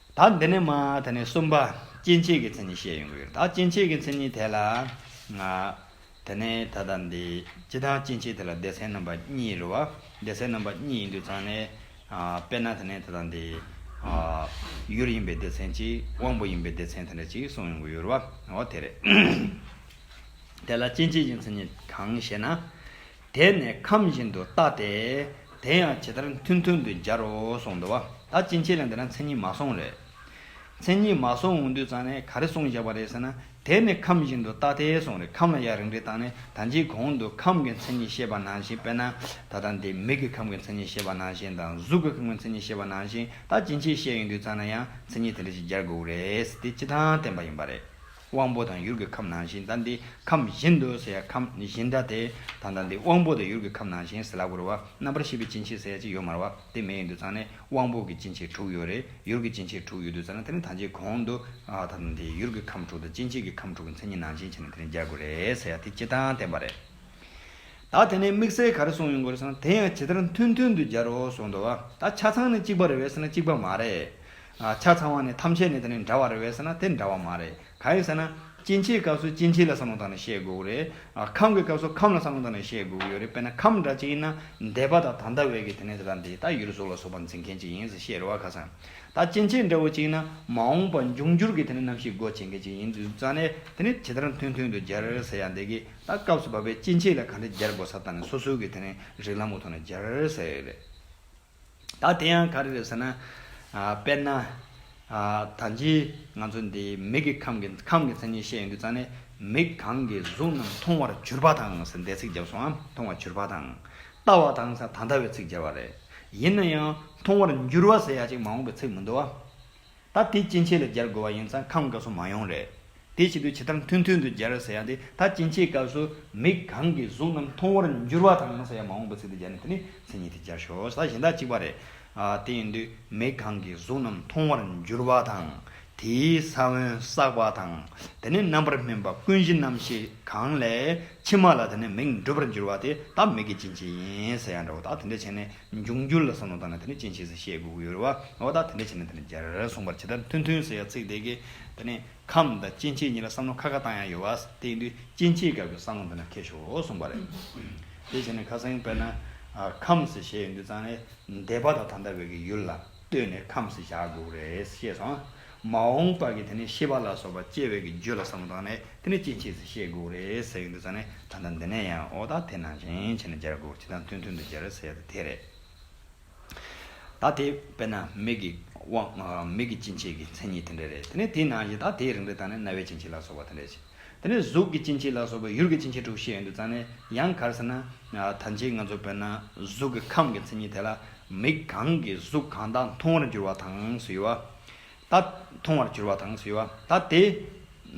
ད་འདི་ནས་མ་ད་ནས་གསུམ་པ་སྐྱེ་མཆེད་ཀྱི་མཚན་ཉིད་བཤད་ཡོང་གི་ཡོད། ད་སྐྱེ་མཆེད་ཀྱི་མཚན་ཉིད་དེ་ལ། དེ་ནས་ད་ལྟ་འདི་སྤྱི་དང་སྐྱེ་མཆེད་དེ་ལ་སྡེ་ཚན་རྣམ་པ་གཉིས་རེད་བ། སྡེ་ཚན་རྣམ་པ་གཉིས་ཡིན་དུས་ཚང་ནས། དཔེར་ན་དེ་ནས་ད་ལྟ་འདི། ཡུལ་ཡིན་པའི་སྡེ་ཚན་གཅིག་དབང་པོ་ཡིན་པའི་སྡེ་ཚན་དེ་འདྲ་གཅིག་གསུངས་ཡོང་གི་ཡོད་རེད་བ། འོ་དེ་རེད། དེ་ལ་སྐྱེ་མཆེད་ཀྱི་མཚན་ཉིད་གང་ཞེ་ན། དེས་ནི་ཁམས་བཞིན་དུ་བརྟགས་ཏེ། དེ་ཡང་ཇི་ལྟར་མཐུན་མཐུན་དུ་སྦྱར་རོ་གསུངས། འདུལ་བ་ད་ཅི་མཆིས་ལ་འདི་ན་མཚན་ཉིད་མ་སོང་རེད། མཚན་ཉིད་མ་སོང་འོང་དུས་ཙང་ནས་ག་རེ་གསུངས་བཞག་པ་རེད་ཟེར་ན། དེས་ནི་ཁམས་བཞིན་དུ་བརྟགས་ཏེ་གསུངས་རེད་ཁམས་ལ་ཡང་རིགས་འགྲེ་བཏང་ནས་ད་ཅིའི་གོང་དུ་ཁམས་ཀྱི་མཚན་ཉིད་བཤད་པ་ནང་བཞིན་དཔེར་ན། ད་ལྟ་འདི་མིག་གི་ཁམས་ཀྱི་མཚན་ཉིད་བཤད་པ་ནང་བཞིན་དང་གཟུགས་ཀྱི་ཁམས་ཀྱི་མཚན་ཉིད་བཤད་པ་ནང་བཞིན་ད་ཅི་མཆིས་བཤད་ཡོང་དུས་ཙང་ན་ཡང་མཚན་ཉིད་དེ་འདྲ་ཞིག་སྦྱར་དགོས་རེད་ཟེར་ཏེ་སྤྱི་དང་བསྟན་པ་ཡིན་པ་རེད། དབང་པོ་དང་ཡུལ་གྱི་ཁམས་ནང་བཞིན་དང་འདི་ཁམས་བཞིན་དུ་ཟེར་ཡ་ཁམས་བཞིན་དང་དེ་དང་དང་འདི་དབང་པོ་དང་ཡུལ་གྱི་ཁམས་ནང་བཞིན་ཟེར་ལ་གུར་བ་རྣམ་པར་ཤེས་པའི་སྐྱེ་མཆེད་ཟེར་ཡ་གཅིག་ཡོད་མར་བ་དེ་མེད་ཡོད་དུ་ཙང་ནས་དབང་པོ་གྱི་སྐྱེ་མཆེད་དྲུག་ཡོད་རེད་ཡུལ་གྱི་སྐྱེ་མཆེད་དྲུག་ཡོད་དུ་ཙང་ན་དེ་ནས་ཐམས་ཅད་གོང་དུ་དང་དང་དེ་ཡུལ་གྱི་ཁམས་དྲུག་དང་སྐྱེ་མཆེད་ཀྱི་ཁམས་དྲུག་གི་མཚན་ཉིད་ནང་བཞིན་བྱས་ན་དེ་ནས་འཇལ་དགོས་རེད་ཟེར་ཡ་དེ་སྤྱི་དང་བསྟན་པ་རེད། ད་དེ་ནས་དམིགས་བསལ་ག་རེ་གསུངས་ཡོད་དགོས་རེད་ཟེར་ན་དེ་ཡང་ཇི་ལྟར་མཐུན་མཐུན་དུ་སྦྱར་རོ་གསུངས་འདུག་བ་ད་ཆ་ཚང་ནས་གཅིག་པ་རེད་བས་ཟེར་ན་གཅིག་པ་མ་རེད། ཆ་ཚང་བ་ནི་ཐམས་ཅད་ནི་དེ་ནི་འདྲ་བ་རེད་བས་ཟེར་ན་དེ་འདྲ་བ་མ་རེད་ག་ཡིན་ཟེར་ན། སྐྱེ་འཆིའི་སྐབས་སུ་སྐྱེ་འཆི་ལ་བསམ་བློ་བཏང་ནས་བཤད་དགོས་རེད། ཁམས་ཀྱི་སྐབས་སུ་ཁམས་ལ་བསམ་བློ་བཏང་ནས་བཤད་དགོས་ཀྱི་ཡོད་རེད་དཔེར་ན་ཁམས་འདྲ་གཅིག་ཡིན་ན་འདས་པ་དང་ད་ལྟ་བས་ཀྱི་དེ་ནི་དེ་དང་དེའི་ད་ཡུལ་སོགས་ལ་སོགས་པ་འཛིན་མཁན་གཅིག་ཡིན་ཟེར་བཤད་རེ་བ་ཁ་སང། ད་སྐྱེ་འཆི་འདྲ་བོ་གཅིག་ཡིན་ན་མ་འོངས་པ་འབྱུང་འགྱུར་གྱི་དེ་ནི་རྣམ་ཤེས་སྒོ་འབྱེད་མཁན་གཅིག་ཡིན་དུས་རྩ་ནས་དེ་ནི་ཇི་ལྟར་མཐུན་མཐུན་དུ་སྦྱར་ཟེར་ཡང་འདས་ཀྱི་ད་སྐབས་སུ་བབས་པའི་སྐྱེ་འཆི་ལ་ག་འདྲ་སྦྱར་དགོས་ས་ལྟ་ནས་སོ་སོའི་གི་དེ་ནི་རིགས་ལམ་གྱི་ཐོག་ནས་སྦྱར་ཟེར་ཡོད་རེད། ད་དེ་ཡང་ག་རེ་རེད་ཟེར་ན། དཔེར་ན། ད་ལྕི་ང་ཚོ་འདི་མིག་གི་ཁམས་ཀྱི་ཁམས་ཀྱི་མཚན་ཉིད་བཤད་ཡོང་དུས་ཙང་ནས་མིག་གང་གིས་གཟུགས་རྣམས་མཐོང་བར་གྱུར་པ་དང་ཟེར་འདས་ཚིག་བརྒྱབ་སོང་ཨ། མཐོང་བར་གྱུར་པ་དང། ལྟ་བ་དང་ཟེར་ད་ལྟ་བའི་ཚིག་བརྒྱབ་པ་རེད། ཡིན་ན་ཡང་མཐོང་བར་འགྱུར་བ་ཟེར་ཡ་གཅིག་མ་འོངས་པའི་ཚིག་མི་འདུག་ཨ། ད་དེ་སྐྱིན་ཆད་ལ་སྦྱར་དགོས་བ་ཡིན་ཙང་ཁམས་འགའ་སུ་མ་ཡོང་རེད། དེའི་ཆེད་དུ་ཇི་ལྟར་མཐུན་མཐུན་དུ་སྦྱར་ཟེར་ཡང་དེ་ད་སྐྱིན་ཆད་སྐབས་སུ་མིག་གང་གིས་གཟུགས་རྣམས་མཐོང་བར་འགྱུར་བ་དང་ཟེར་ཡང་མ་འོངས་པའི་ཚིག་ཏུ་སྦྱར་ནས་དེ་ནི་མཚན་ཉིད་དེ་སྦྱར་ཞོར་ཟ་བཞིན་དག་གཅིག་པ་རེད། དེ་ཡིན་དུས་མིག་གང་གིས་གཟུགས་རྣམས་མཐོང་བར་འགྱུར་བ་དང། དེའི་ས་བོན་བསགས་པ་དང། དེ་ནི་རྣམ་པར་སྨིན་པ་ཀུན་གཞི་རྣམ་ཤེས་གང་ལས་ཕྱི་མ་ལ་དེ་ནི་མིག་འགྲུབ་པར་འགྱུར་བ་དེ་ད་མིག་གི་སྐྱིན་ཆད་ཡིན་ཟེར་ཡང་འདྲ་བོ་དག་དེ་འདྲ་བྱས་ནས་འབྱུང་འགྱུར་ལ་བསམ་བློ་བཏང་ནས་དེ་ནི་ཅི་བྱས་སུ་བཤད་དགོས་ཀྱི་ཡོད་རེད་བ། འོ་ད་དེ་འདྲ་བྱས་ན་དེ་ནི་འཇར་ར་ར་གསུངས་པར་ཇི་ལྟར་མཐུན་མཐུན་ཟེར་ཡ་ཚིག་དེ་གས་དེ་ནི་ཁམས་དང་སྐྱེ་མཆེད་གཉིས་ལ་བསམ་བློ་ཁ་ཁ་བཏང་ཡ་ཡོད་བ། དེ་ཡིན་དུས་སྐྱེ་མཆེད་སྐབས་ཀྱི་བསམ་བློ་འདི་ནི་ཁེ་ཤོ་གསུངས་པ་རེད། དེ་བྱས་ནས་ཁ་སང་དཔེར་ན། ཁམས་ཞེས་ཡོད་དུས་ཙང་ནས་འདས་པ་དང་ད་ལྟ་བའི་གི་ཡུལ་ལ་ལྟོས་ནས་ཁམས་ཞེས་བཞག་དགོས་ཀྱི་རེད་ཤེས་སོང། མ་འོངས་པར་གྱི་དེ་ནས་ཤེས་པ་ལ་སོགས་པ་སྐྱེ་བའི་གྱི་རྒྱུ་ལ་བསམ་བློ་བཏང་ནས་དེ་ནས་སྐྱེ་མཆེད་ཚེ་ཤེས་དགོས་རེད་ཟེར་གྱི་འདུག་ས་ནས་ད་ལྟ་འདི་ནས་ཡང་ཨོ་ད་དེ་ནང་བཞིན་བྱས་ནས་སྦྱར་དགོས་ཅི་དང་མཐུན་མཐུན་དུ་སྦྱར་ཟེར་ཡོད་ད་དེ་རེད། ད་དེ་དཔེར་ན་མིག་གི་དབང། མིག་གི་སྐྱེ་མཆེད་ཀྱི་མཚན་ཉིད་དེ་འདྲ་རེད་དེ་ནས་དེའི་ནང་བཞིན་ད་དེའི་རིང་དུ་ད་ནས་རྣ་བའི་སྐྱེ་མཆེད་ལ་སོགས་པ་དེ་འདྲ་བྱས་དེ་ནས་གཟུགས་ཀྱི་སྐྱེ་མཆེད་ལ་སོགས་པའི་ཡུལ་གྱི་སྐྱེ་མཆེད་དྲུག་བཤད་ཡོད་འདུག་ས་ནས་ཡང་གར་ཟེར་ན་ད་ཕྱིན་ང་ཚོ་དཔེར་ན་གཟུགས་ཀྱི་ཁམས་ཀྱི་མཚན་ཉིད་དེ་ལ་མིག་གང་གིས་གཟུགས་གང་དག་མཐོང་བར་འགྱུར་བ་དང་ཟེར་བ། ད། མཐོང་བར་གྱུར་བ་དང་གསོལ་བ་ད་དེ།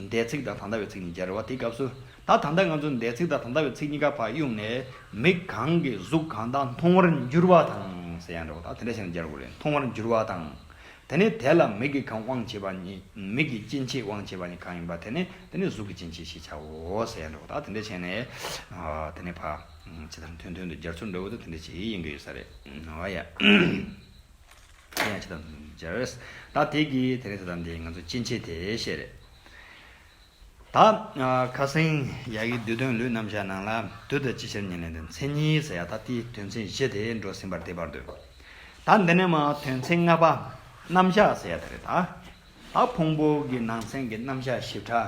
འདས་ཚིག་དང་ད་ལྟ་བའི་ཚིག་ནི་སྦྱར་བ་དེའི་སྐབས་སུ། ད་ད་ལྟ་ང་ཚོས་འདས་ཚིག་དང་ད་ལྟ་བའི་ཚིག་གཉིས་ཀ་བར་དབྱུང་ནས། མིག་གང་གིས་གཟུགས་གང་དག་མཐོང་བར་འགྱུར་བ་དང། ཟེར་ཡང་འདྲ་བ་དང་དེ་འདྲ་བྱས་ནས་སྦྱར་དགོས་རེད་མཐོང་བར་འགྱུར་བ་དང། དེ་ནི་དེ་ལ་མིག་གིས་གང་དབང་བྱེད་པ་ནི། མིག་གིས་སྐྱེ་མཆེད་དབང་བྱེད་པ་ནི་གང་ཡིན་པ་དེ་ནི་དེ་ནི་གཟུགས་ཀྱི་སྐྱེ་མཆེད་ཞེས་བྱའོ། ཟེར་ཡང་འདྲ་བ་དང་དེ་འདྲ་བྱས་ནས། དེ་ནི་བར། ཇི་ལྟར་མཐུན་མཐུན་དུ་སྦྱར་ཚུལ་འདྲ་བོ་དང་དེ་འདྲ་བྱེད་ཀྱི་ཡིན་གྱི་ཡོད་ས་རེད། དེ་ཡང་ཇི་ལྟར་འདུག་ཅེས་སྦྱར། ད་དེ་གི་དེ་རིང་ས་དམ་དེ་ང་ཚོ་ཅི་མཆིས་དེ་ཤེས་རེད། ད་ཁ་སེང་ཡག་གི་བསྡུས་དོན་ལུས་རྣམ་གཞག་ནང་ལ་དུས་དང་ཅི་ཕྱིར་ཉིན་ལེན་དོན་ཚན་གཉིས་ཟེར་ཡག་ད་དེའི་དོན་ཚན་བཞི་དེ་འགྲོ་ཟིན་པར་དེ་བར་དུ། ད་འདི་ནས་མ་དོན་ཚན་ལྔ་པ་རྣམ་གཞག་ཟེར་ཡག་དེ་རེད་ད། ད་ཕུང་པོ་གི་ནང་ཚན་གྱི་རྣམ་གཞག་ཞིབ་ཕྲ།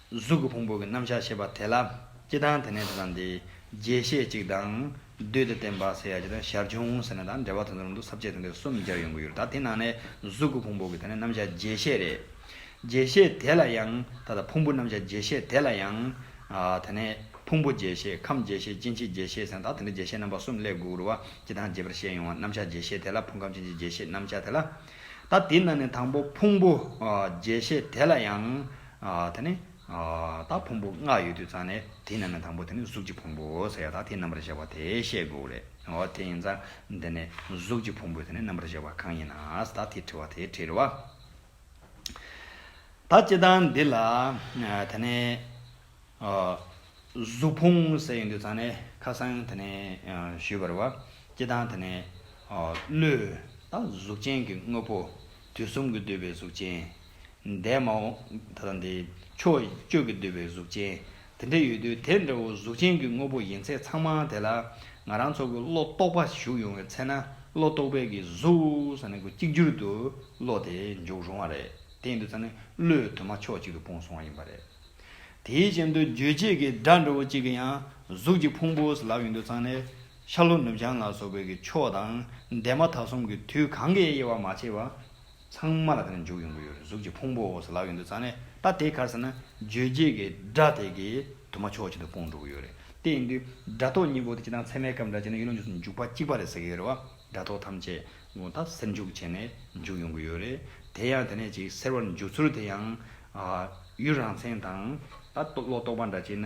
གཟུགས་ཀྱི་ཕུང་པོ་གྱི་རྣམ་གཞག་བྱེད་པ་དེ་ལ་སྤྱི་དང་དེ་ནས་དེ་དང་དེའི་རྒྱས་བཤད་ཅིག་དང། བསྡུས་ཏེ་བསྟན་པ་ཟེར་ཡ་ཅིག་དང་ཞར་བྱུང་ཟེར་ན་དང་འབྲེལ་བ་དེ་ཚོ་རང་དུ་ཟབ་ཆས་དང་དེ་གསུམ་སྦྱར་ཡོང་གི་ཡོད་རེད་ད་དེ་ནང་ནས་གཟུགས་ཀྱི་ཕུང་པོ་གྱི་དེ་ནས་རྣམ་གཞག་རྒྱས་བཤད་རེད། རྒྱས་བཤད་དེ་ལ་ཡང་ད་ལྟ་ཕུང་པོ་རྣམ་གཞག་རྒྱས་བཤད་དེ་ལ་ཡང། དེ་ནས་ཕུང་པོ་རྒྱས་བཤད་ཁམས་རྒྱས་བཤད་སྐྱེ་མཆེད་རྒྱས་བཤད་ཟེར་ན་ད་དེ་འདྲ་རྒྱས་བཤད་རྣམ་པ་གསུམ་ཀླད་གུ་རུ་བ་སྤྱི་དང་རྒྱས་པར་བཤད་ཡོང་བ་རྣམ་གཞག་རྒྱས་བཤད་དེ་ལ་ཕུང་ཁམས་སྐྱེ་མཆེད་རྒྱས་བཤད་རྣམ་གཞག་དེ་ལ། ད་དེ་ནང་ནས་དང་པོ་ཕུང་པོ་རྒྱས་བཤད་དེ་ལ་ཡང། དེ་ནི། དག་ཕུང་པོ་ལྔ་ཡོད་དུས་ཙང་ནས་དེ་རྣམས་ལས་དང་པོ་དེ་ནི་གཟུགས་ཀྱི་ཕུང་པོ་ཟེར་ཡ་དག་དེ་རྣམ་པར་གཞག་པ་དེ་བཤད་དགོས་རེད་འོ་དེ་ཡིན་ཙང་དེ་ནས་གཟུགས་ཀྱི་ཕུང་པོ་དེ་ནི་རྣམ་པར་གཞག་པ་གང་ཡིན་ན་དག་དེ་དྲི་བ་དེའི་དྲིར་བ། ད་སྤྱི་དང་འདི་ལ། དེ་ནི། གཟུགས་ཕུང་ཟེར་ཡོང་དུས་ཙང་ནས་ཁ་སང་དེ་ནི་ཞུས་པར་བ། སྤྱི་དང་དེ་ནི། བློས། དང་གཟུགས་ཅན་གྱི་དངོས་པོ། དུས་གསུམ་གྱི་འདོད་པའི་གཟུགས་ཅན། འདས་མ་འོངས། ད་དེ། ཕྱོགས་བཅུ་གྱི་འདོད་པའི་གཟུགས་ཅན། དེ་འདྲ་ཡོད་དུས་དེ་འདྲ་བོ་གཟུགས་ཅན་གྱི་དངོས་པོ་ཡིན་ཚད་ཚང་མ་དེ་ལ། ང་རང་ཚོ་གི་བློ་རྟོག་པ་ཞུགས་ཡོང་བའི་ཚེ་ན་བློ་རྟོག་པའི་གི་གཟུགས། གཅིག་གྱུར་དུ་བློ་དེ་འཇུག་རུང་བ་རེད། དེ་འདུག་ཚ་ནི་བློས་དུ་མ་ཕྱོགས་གཅིག་ཏུ་སྤུངས་སོང་བ་ཡིན་པ་རེད། དེའི་རྐྱེན་དུ་རྗོད་བྱེད་ཀྱི་སྒྲ་འདྲ་བོ་གཅིག་གི་ཡང་གཟུགས་ཀྱི་ཕུང་པོ་ལག་ཡོད་འདུག་ཚང་ནི། ཤར་ལྷོ་ནུབ་བྱང་ལ་སོགས་བོད་ཀྱི་ཕྱོགས་དང་འདས་མ་ད་གསུམ་གྱི་དུས་གང་གཱའི་དབྱེ་བ་མ་ཕྱེ་བར། ཚང་མ་ལ་དེ་ནས་འཇུག་ཡོང་གི་ཡོད་རེད་གཟུགས་ཀྱི་ཕུང་པོ་འོག་སུ་ལག་ཡོད་འདུག་ཙང་ནས་ད་དེ་གར་ཟེར་ན་རྗོད་བྱེད་ཀྱི་སྒྲ་དེ་གས་དུ་མ་ཕྱོགས་གཅིག་ཏུ་སྤུངས་འགྲོ་གི་ཡོད་རེད་དེ་ཡིན་དུས་སྒྲ་རྟོག་གཉིས་པོ་དེ་སྤྱི་དང་ཚད་མའི་སྐབས་འདྲ་བྱས་ན་ཡུལ་ལུང་རྗེས་སུ་འཇུག་པ་གཅིག་པ་རེད་ཟེར་གི་ཡོད་རེད་བ་སྒྲ་རྟོག་ཐམས་ཅད་དགུང་ད་སེར་འཇུག་བྱས་ནས་འཇུག་ཡོང་གི་ཡོད་རེད་དེ་ཡང་དེ་ནས་ཅིག་ཟེར་བར་འཇུག་ཚུལ་དེ་ཡང། ཡུལ་རང་མཚན་དང། ད་ལོག་རྟོག་པ་འདྲ་བྱས་ན།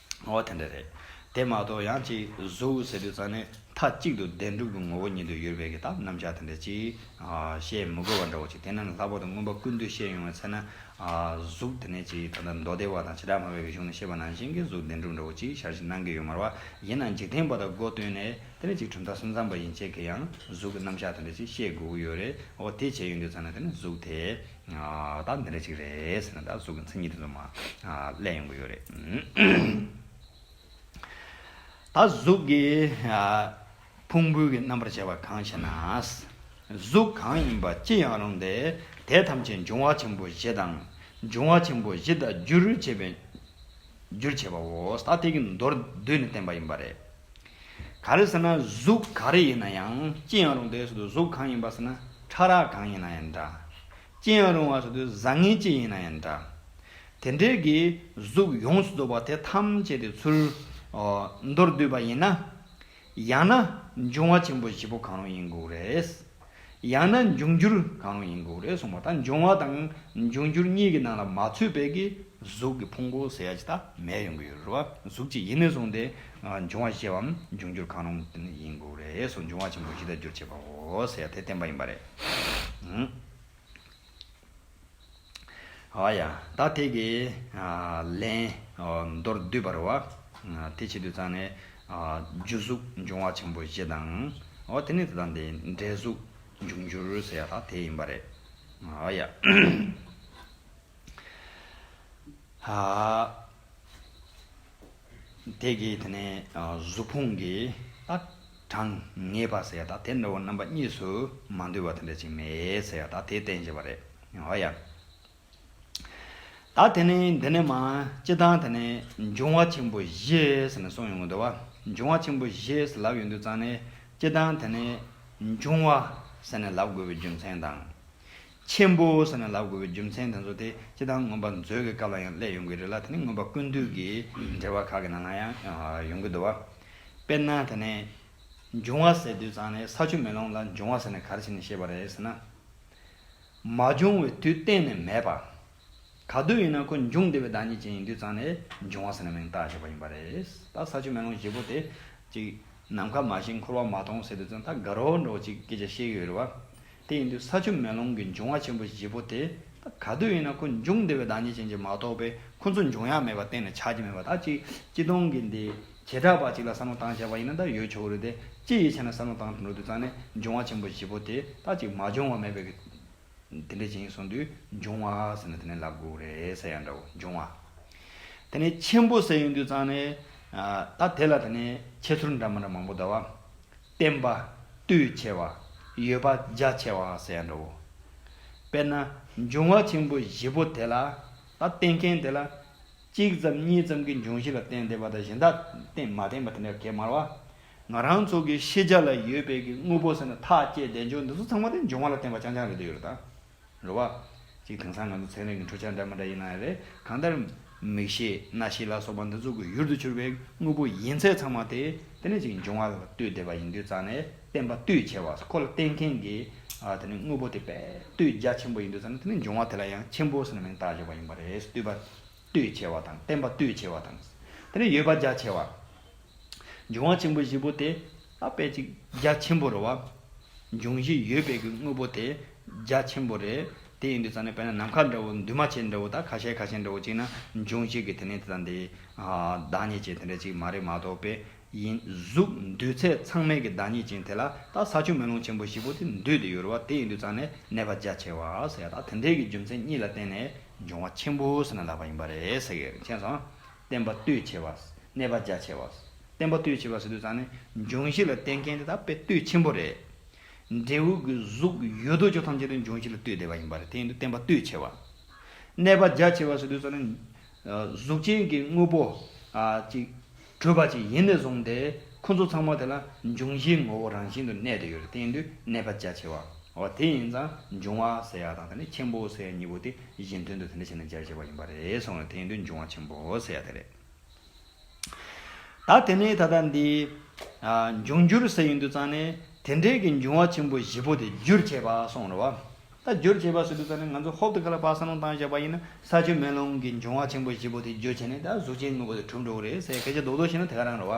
འོ་དེ་འདྲ་རེད། དེ་མ་གཏོགས་ཡང་ཅིག་གཟུགས་ཟེར་དུས་ཙང་ནས་མཐའ་གཅིག་ཏུ་བདེན་གྲུབ་ཀྱི་ངོ་བོ་ཉིད་དུ་ཡོད་པས་ཀྱི་དང་རྣམ་གཞག་དེ་འདྲ་ཅིག་བཤད་མི་དགོས་པ་འདྲ་བོ་ཅིག་དེ་ནི་ལྷག་པར་དུ་མངོན་པ་ཀུན་བཏུས་བཤད་ཡོང་བའི་ཚེ་ན། གཟུགས་དེ་ནས་ཅིག་ད་ལྟ་མདོ་སྡེ་བ་དང་བྱེ་བྲག་སྨྲ་བའི་རིག་གཞུང་ནས་བཤད་པ་ནང་བཞིན་གྱི་གཟུགས་བདེན་གྲུབ་འདྲ་བོ་ཅིག་ཞར་བཞེས་གནང་གི་ཡོད་མ་རེད་བ། ཡིན་ན་འཇིག་རྟེན་པ་དང་སྒོ་བསྟུན་ནས་དེ་ནས་ཅིག་གྲུབ་མཐའ་གསུམ་ཚང་པ་ཡིན་ཆེད་ཀྱི་ཡང་གཟུགས་ཀྱི་རྣམ་གཞག་དེ་འདྲ་ཅིག་བཤད་དགོས་ཀྱི་ཡོད་རེད། འོ་དེ་བྱས་ཡོང་དུས་ཙང་ནས་དེ་ནི་གཟུགས་དེ། ད་འདི་འདྲ་ཅིག་རེད་ཟེར་ན་ད་གཟུགས་ཀྱི་མཚན་ཉིད་དེ་ཚོ་མ་བསླད་ཡོང་གི་ཡོད་རེད། ད་གཟུགས་ཀྱི་ཕུང་པོའི་རྣམ་པར་བྱས་པ་གང་ཞེ་ན། གཟུགས་གང་ཡིན་པ་ཅི་ཡང་རུང་སྟེ་དེ་ཐམས་ཅད་འབྱུང་བ་ཆེན་པོ་བཞི་དང། འབྱུང་བ་ཆེན་པོ་བཞི་དང་རྒྱུར་བྱས་པའོ། ད་དེ་གྱི་མདོར་བསྡུས་ནས་བསྟན་པ་ཡིན་པ་རེད། ག་རེ་ཟེར་ན་གཟུགས་ག་རེ་ཡིན་ན་ཡང་ཅི་ཡང་རུང་དེ་སོ་དུ་གཟུགས་གང་ཡིན་པ་ཟེར་ན་ཕྲ་རགས་གང་ཡིན་ན་ཡང་འདྲ། ཅི་ཡང་རུང་བ་སོ་དུ་བཟང་ངན་ཅི་ཡིན་ན་ཡང་འདྲ། དེ་འབྲེལ་གྱི་གཟུགས་ཡོངས་སུ་རྫོགས་པ་དེ་ཐམས་ཅད་དེ་ཚུར་མདོར་བསྡུས་པ་ཡིན་ན། ཡང་ན་འབྱུང་བ་ཆེན་པོ་བཞི་པོ་གང་རུང་ཡིན་དགོས་རེད། ཡང་ན་འབྱུང་འགྱུར་གང་རུང་ཡིན་དགོས་རེད་གསུངས་པ་ལྟར་འབྱུང་བ་དང་འབྱུང་འགྱུར་གཉིས་ཀྱི་ནང་ལ་མ་ཚུད་པའི་གི་གཟུགས་ཀྱི་ཕུང་པོ་ཟེར་ཡ་ཇི་ལྟ་མེད་ཡོང་གི་ཡོད་རེད་བ་གཟུགས་གཅིག་ཡིན་ནས་བཟུང་སྟེ་འབྱུང་བ་ཞེས་པའམ་འབྱུང་འགྱུར་གང་རུང་ཡིན་དགོས་རེད་སོགས་འབྱུང་བ་ཆེན་པོ་བཞི་དག་སྒྱུར་བྱེད་པའོ་ཟེར་ཡ་དེ་བསྟན་པ་ཡིན་པ་རེད། ཨཱ་ཡ། ད་ཐེག་གི། ལན། མདོར་བསྡུས་པར་བ། དེ་བྱེད་དུ་བཅང་ནས། རྒྱུ་གཟུགས་འབྱུང་བ་ཆེན་པོ་བཞི་དང། དེ་ནས་དེ་དང་དེ་འབྲེལ་གཟུགས་འབྱུང་འགྱུར་ཟེར་ཡ་དག་དེ་ཡིན་པ་རེད། ཨཱ་ཡ། ཧཱ། དེ་གིས་དེ་ནས་གཟུགས་ཕུང་གི་གྲངས་ངེས་པར་ཟེར་ཡ་དག་དེ་འདྲ་བ་རྣམ་པ་གཉིས་སུ་མ་འདུས་པ་དེ་འདྲ་ཅིག་མེད་ཟེར་ཡ་དག་དེའི་རྟེན་བྱེད་པ་རེད། ཧོ་ཡ། ད་དེ་ནས་འདི་ནས་མ་སྤྱི་དང་དེ་ནས་འབྱུང་བ་ཆེན་པོ་བཞི་ཟེར་ནས་གསུངས་ཡོང་གི་འདུག་བ་འབྱུང་བ་ཆེན་པོ་བཞི་ཟེར་ལབ་ཡོང་དུས་ཙང་ནས་སྤྱི་དང་དེ་ནས་འབྱུང་བ་ཟེར་ནས་ལབ་དགོས་པའི་རྒྱུ་མཚན་དང། ཆེན་པོ་ཟེར་ན་ལབ་དགོས་པའི་རྒྱུ་མཚན་དེ་ཚོ་དེ་སྤྱི་དང་མངོན་པ་མཛོད་ཀྱི་སྐབས་ལ་ཡང་སླད་ཡོང་གི་རེད་ལ་དེ་ནི་མངོན་པ་ཀུན་འདུས་ཀྱི་འགྲེལ་བ་ཁག་གི་ནང་ལ་ཡང་ཡོང་གི་འདུག་བ། དཔེར་ན་དེ་ནས། འབྱུང་བ་ཟེར་དུས་ཙང་ནས་ས་ཆུ་མེ་ལོང་ལ་འབྱུང་བ་ཟེར་ནས་ག་རེ་བྱས་ནས་ཤེས་པ་རེད་ཟེར་ན། མ་བྱུང་བའི་དུས་གཏན་ནས་མེད་པ། ག་དུས་ཡིན་ན་ཁོ་འབྱུང་བདེ་བའི་བདག་ཉིད་ཅན་ཡིན་དུས་ཙང་ནས་འབྱུང་བ་ཟེར་ན་མིང་བཏགས་བྱས་པ་ཡིན་པ་རེད། ད་ས་ཆུ་མེ་ལོང་བཞི་པོ་དེ་ཅིག་ནམ་མཁའ་མ་བཞིན་འཁོར་བ་མ་སྟོང་ཟེར་དུས་ཙང་ད་དགའ་རོགས་འདྲོགས་ཅིག་སྐད་ཆ་བཤད་ཀྱི་ཡོད་རེད་བ། དེ་ཡིན་དུས་ས་ཆུ་མེ་ལོང་གི་འབྱུང་བ་ཆེན་པོ་བཞི་པོ་དེ་ད་ག་དུས་ཡིན་ན་ཁོ་འབྱུང་བདེ་བའི་བདག་ཉིད་ཅན་གྱིས་མ་རྟོགས་པས་ཁོ་ཚོ་འབྱུང་ཡག་མེད་པ་གཏན་ནས་ཆགས་ཀྱི་མེད་པ་ད་ཅིག་སྤྱི་སྟོང་གི་འདི་བྱེ་བྲག་པ་ཅིག་ལ་བསམ་བློ་བཏང་བྱས་པ་ཡིན་ན་ད་ཡོད་ཆོག་གི་རེད་དེ་སྤྱི་ཡིས་བྱས་ན་བསམ་བློ་བཏང་འགྲོ་དུས་ཙང་ནས་འབྱུང་བ་ཆེན་པོ་བཞི་པོ་དེ་ད་ཅིག་མ་འབྱུང་བ་མེད་པའི་དེ་འདྲའི་རྗེས་སོང་དུས་འབྱུང་བ་ཟེར་ན་དེ་ནི་ལག་འགུགས་རེད་ཟེར་ཡ་འདྲ་བོ་འབྱུང་བ། དེ་ནས་ཆེན་པོ་ཟེར་ཡོང་དུས་ཙང་ནི། ད་དེ་ལ་དེ་ནི་ཁྱད་ཚུར་འདྲ་མ་འདྲ་མང་པོ་གདའ་བ། བརྟན་པ། རྟུལ་ཆེ་བ། ཡོད་པ་རྒྱ་ཆེ་བ་ཟེར་ཡ་འདྲ་བོ། དཔེར་ན། འབྱུང་བ་ཆེན་པོ་བཞི་པོ་དེ་ལ། ད་བརྟེན་མཁན་དེ་ལ། གཅིག་ཙམ་གཉིས་ཙམ་གྱི་འབྱུང་བཞི་ལ་བརྟེན་བདེ་བ་དང་གཞན་དག་མ་བརྟེན་པ་དེ་འདྲ་གད་དམར་བ། ང་རང་ཚོ་གི་ཤེས་བྱ་ལ་ཡོད་པའི་གི་དངོས་པོ་ཟེར་ན་ཐག་བཅད་བདེན་འབྱོར་འདི་ཚོ་ཚང་མ་དེ་འབྱུང་བ་ལ་བརྟེན་པ་རྐྱང་རྐྱང་རེད་འདོད་ཡོད་རེད་ད། རེད་བ། ཅིག་དེང་སང་ང་ཚོ་ཚན་རིག་གི་འཕྲུལ་ཆ་འདྲ་མི་འདྲ་ཡིན་ན་ཡང་རེད་གང་ལྟར། མིག་ཤེས་རྣ་ཤེས་ལ་སོགས་པ་འདི་ཚོ་གི་ཡུལ་དུ་གྱུར་པའི་དངོས་པོ་ཡིན་ཚད་ཚང་མ་དེ་དེ་ནས་ཅིག་འབྱུང་བ་ལ་ལྟོས་བསྡད་པ་ཡིན་དུས་རྩ་ནས་བསྟན་པ་ལྟོས་ཆེ་བ་ཁོ་ལ་བསྟན་མཁན་གི་དེ་ནི་དངོས་པོ་དེ་དཔེ་ལྟོས་རྒྱ་ཆེན་པོ་ཡིན་དུས་རྩ་ནས་དེ་ནི་འབྱུང་བ་དེ་ལ་ཡང་ཆེན་པོ་ཟེར་ན་མིང་བཏགས་བརྗོད་པ་ཡིན་པ་རེད་ལྟོས་པ་ལྟོས་ཆེ་བ་དང་བསྟན་པ་ལྟོས་ཆེ་བ་དང། དེ་ནི་ཡོད་པ་རྒྱ་ཆེ་བ། འབྱུང་བ་ཆེན་པོ་བཞི་པོ་དེ་ལ་དཔེ་ཅིག་རྒྱ་ཆེན་པོར་བ། འབྱུང་བཞི་ཡོད་པའི་གི་དངོས་པོ་དེ་རྒྱ་ཆེན་པོ་རེད། དེ་ཡིན་དུས་ཙང་ནས་དཔེར་ན་ནམ་མཁའ་འདྲ་བོ་འདུས་མ་བྱས་འདྲ་བོ་དང་ཁ་ཤས་ཁ་ཤས་འདྲ་བོ་གཅིག་ན་འབྱུང་བཞི་གི་དེ་ནི་དེ་དང་དེའི། བདག་ཉིད་ཅན་དེ་འདྲ་གཅིག་མ་རེད་མ་གཏོགས་དཔེ་ཡིན། གཟུགས་འདུས་ཚད་ཚང་མའི་གི་བདག་ཉིད་ཅན་དེ་ལ་ད་ས་ཆུ་མེ་རླུང་ཆེན་པོ་བཞི་པོ་དེ་འདུས་ཏེ་ཡོད་རུ་བ་དེ་ཡིན་དུས་ཙང་ནས་གནས་པ་རྒྱ་ཆེ་བ་ཟེར་ཡ་དང་དེ་འདྲའི་གི་རྒྱུ་མཚན་གཉིས་ལ་བརྟེན་ནས་འབྱུང་བ་ཆེན་པོ་ཟེར་ན་ལགས་པ་ཡིན་པ་རེད། མཁྱེན་སོང། བསྟན་པ་བསྟོད་ཆེ་བ། གནས་པ་རྒྱ་ཆེ་བ། བསྟན་པ་བསྟོད་ཆེ་བ་ཟེར་དུས་ཙང་ནི་འབྱུང་བཞི་ལ་བསྟེན་མཁན་དེ་དག་དཔེ་བསྟོད་ཆེན་པོ་རེད། འབྲས་བུ་གི་གཟུགས་ཡོད་དོ་ཅོག་ཐམས་ཅད་དུ་འབྱུང་བཞི་ལ་བསྟོད་བསྡད་པ་ཡིན་པ་རེད་དེ་ཡིན་དུ་བསྟན་པ་བསྟོད་ཆེ་བ། གནས་པ་རྒྱ་ཆེ་བ་ཟེར་དུས་ཙང་ནི། གཟུགས་ཅན་གྱི་དངོས་པོ། ཅིག། གྲོལ་བ་ཅིག་ཡིན་ནས་བཟུང་སྟེ། ཁོ་ཚོ་ཚང་མ་དེ་ལ་འབྱུང་བཞིའི་ངོ་བོ་རང་བཞིན་དུ་གནས་བསྡད་ཡོད་རེད་དེ་ཡིན་དུ་གནས་པ་རྒྱ་ཆེ་བ། འོ་དེ་ཡིན་ཙང་འབྱུང་བ་ཟེར་ཡག་དང་དེ་ནས་ཆེན་པོ་ཟེར་ཡག་གཉིས་པོ་དེ། ཡིད་བཞིན་དོན་དུ་དེ་འདྲ་བྱས་ན་སྦྱར་བྱས་པ་ཡིན་པ་རེད་སོང་བས་དེ་ཡིན་དུས་འབྱུང་བ་ཆེན་པོ་ཟེར་ཡག་དེ་རེད། ད་དེ་ནས་ད་ལྟ་འདི། འབྱུང་འགྱུར་ཟེར་ཡིན་དུས་ཙང་ནས་དེ་འདྲའི་གི་འབྱུང་བ་ཆེན་པོ་བཞི་པོ་དེ་བསྒྱུར་བྱས་པ་སོང་རོ། ད་བསྒྱུར་བྱས་པ་ཟེར་དུས་ཙང་ནས་ང་ཚོ་ཧོབ་ཏུ་ག་ལ་པགས་ས་ནོངས་བཏང་བཞག་པ་ཡིན་ན་ས་ཆུ་མེ་རླུང་གི་འབྱུང་བ་ཆེན་པོ་བཞི་པོ་དེ་བསྒྱུར་བྱས་ནས་ད་གཟུགས་ཅན་དངོས་པོ་དེ་གྲུབ་འགྲོ་གི་རེད་ཟེར་གལ་ཆེ་རྡོག་རྡོག་བྱས་ན་དེ་ག་རང་རོ།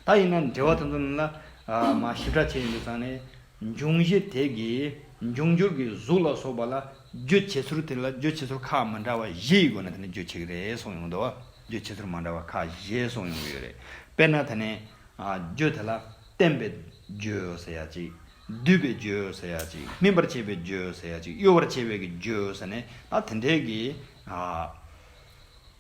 ད་ཡིན་ན་འབྲེལ་བ་དེ་ཚོ་ནི་ལ་མ་ཞིབ་ཕྲ་བྱས་ཡོད་ཙང་ནི། འབྱུང་གཞི་དེ་གའི་འབྱུང་འགྱུར་གྱི་གཟུགས་ལ་སོགས་པ་ལ་རྗོད་བྱེད་ཚུལ་དེ་ལ་རྗོད་བྱེད་ཚུལ་ཁག་མི་འདྲ་བ་བཞི་ཡི་སྒོ་ནས་དེ་ནི་རྗོད་བྱེད་ཀྱི་རེད་གསུངས་ཡོང་གི་འདུག་རྗོད་བྱེད་ཚུལ་མ་འདྲ་བ་ཁག་བཞི་གསུངས་ཡོང་གི་ཡོད་རེད། དཔེར་ན་དེ་ནི། རྗོད་དེ་ལ་བརྟེན་པའི་རྗོད་ཟེར་ཡ་གཅིག། བསྡུས་པའི་རྗོད་ཟེར་ཡ་གཅིག་སྨིན་པར་བྱེད་པའི་རྗོད་ཟེར་ཡ་གཅིག་གཡོ་བར་བྱེད་པའི་རྗོད་ཟེར་ནས་ད་དེ་འདྲའི་གི།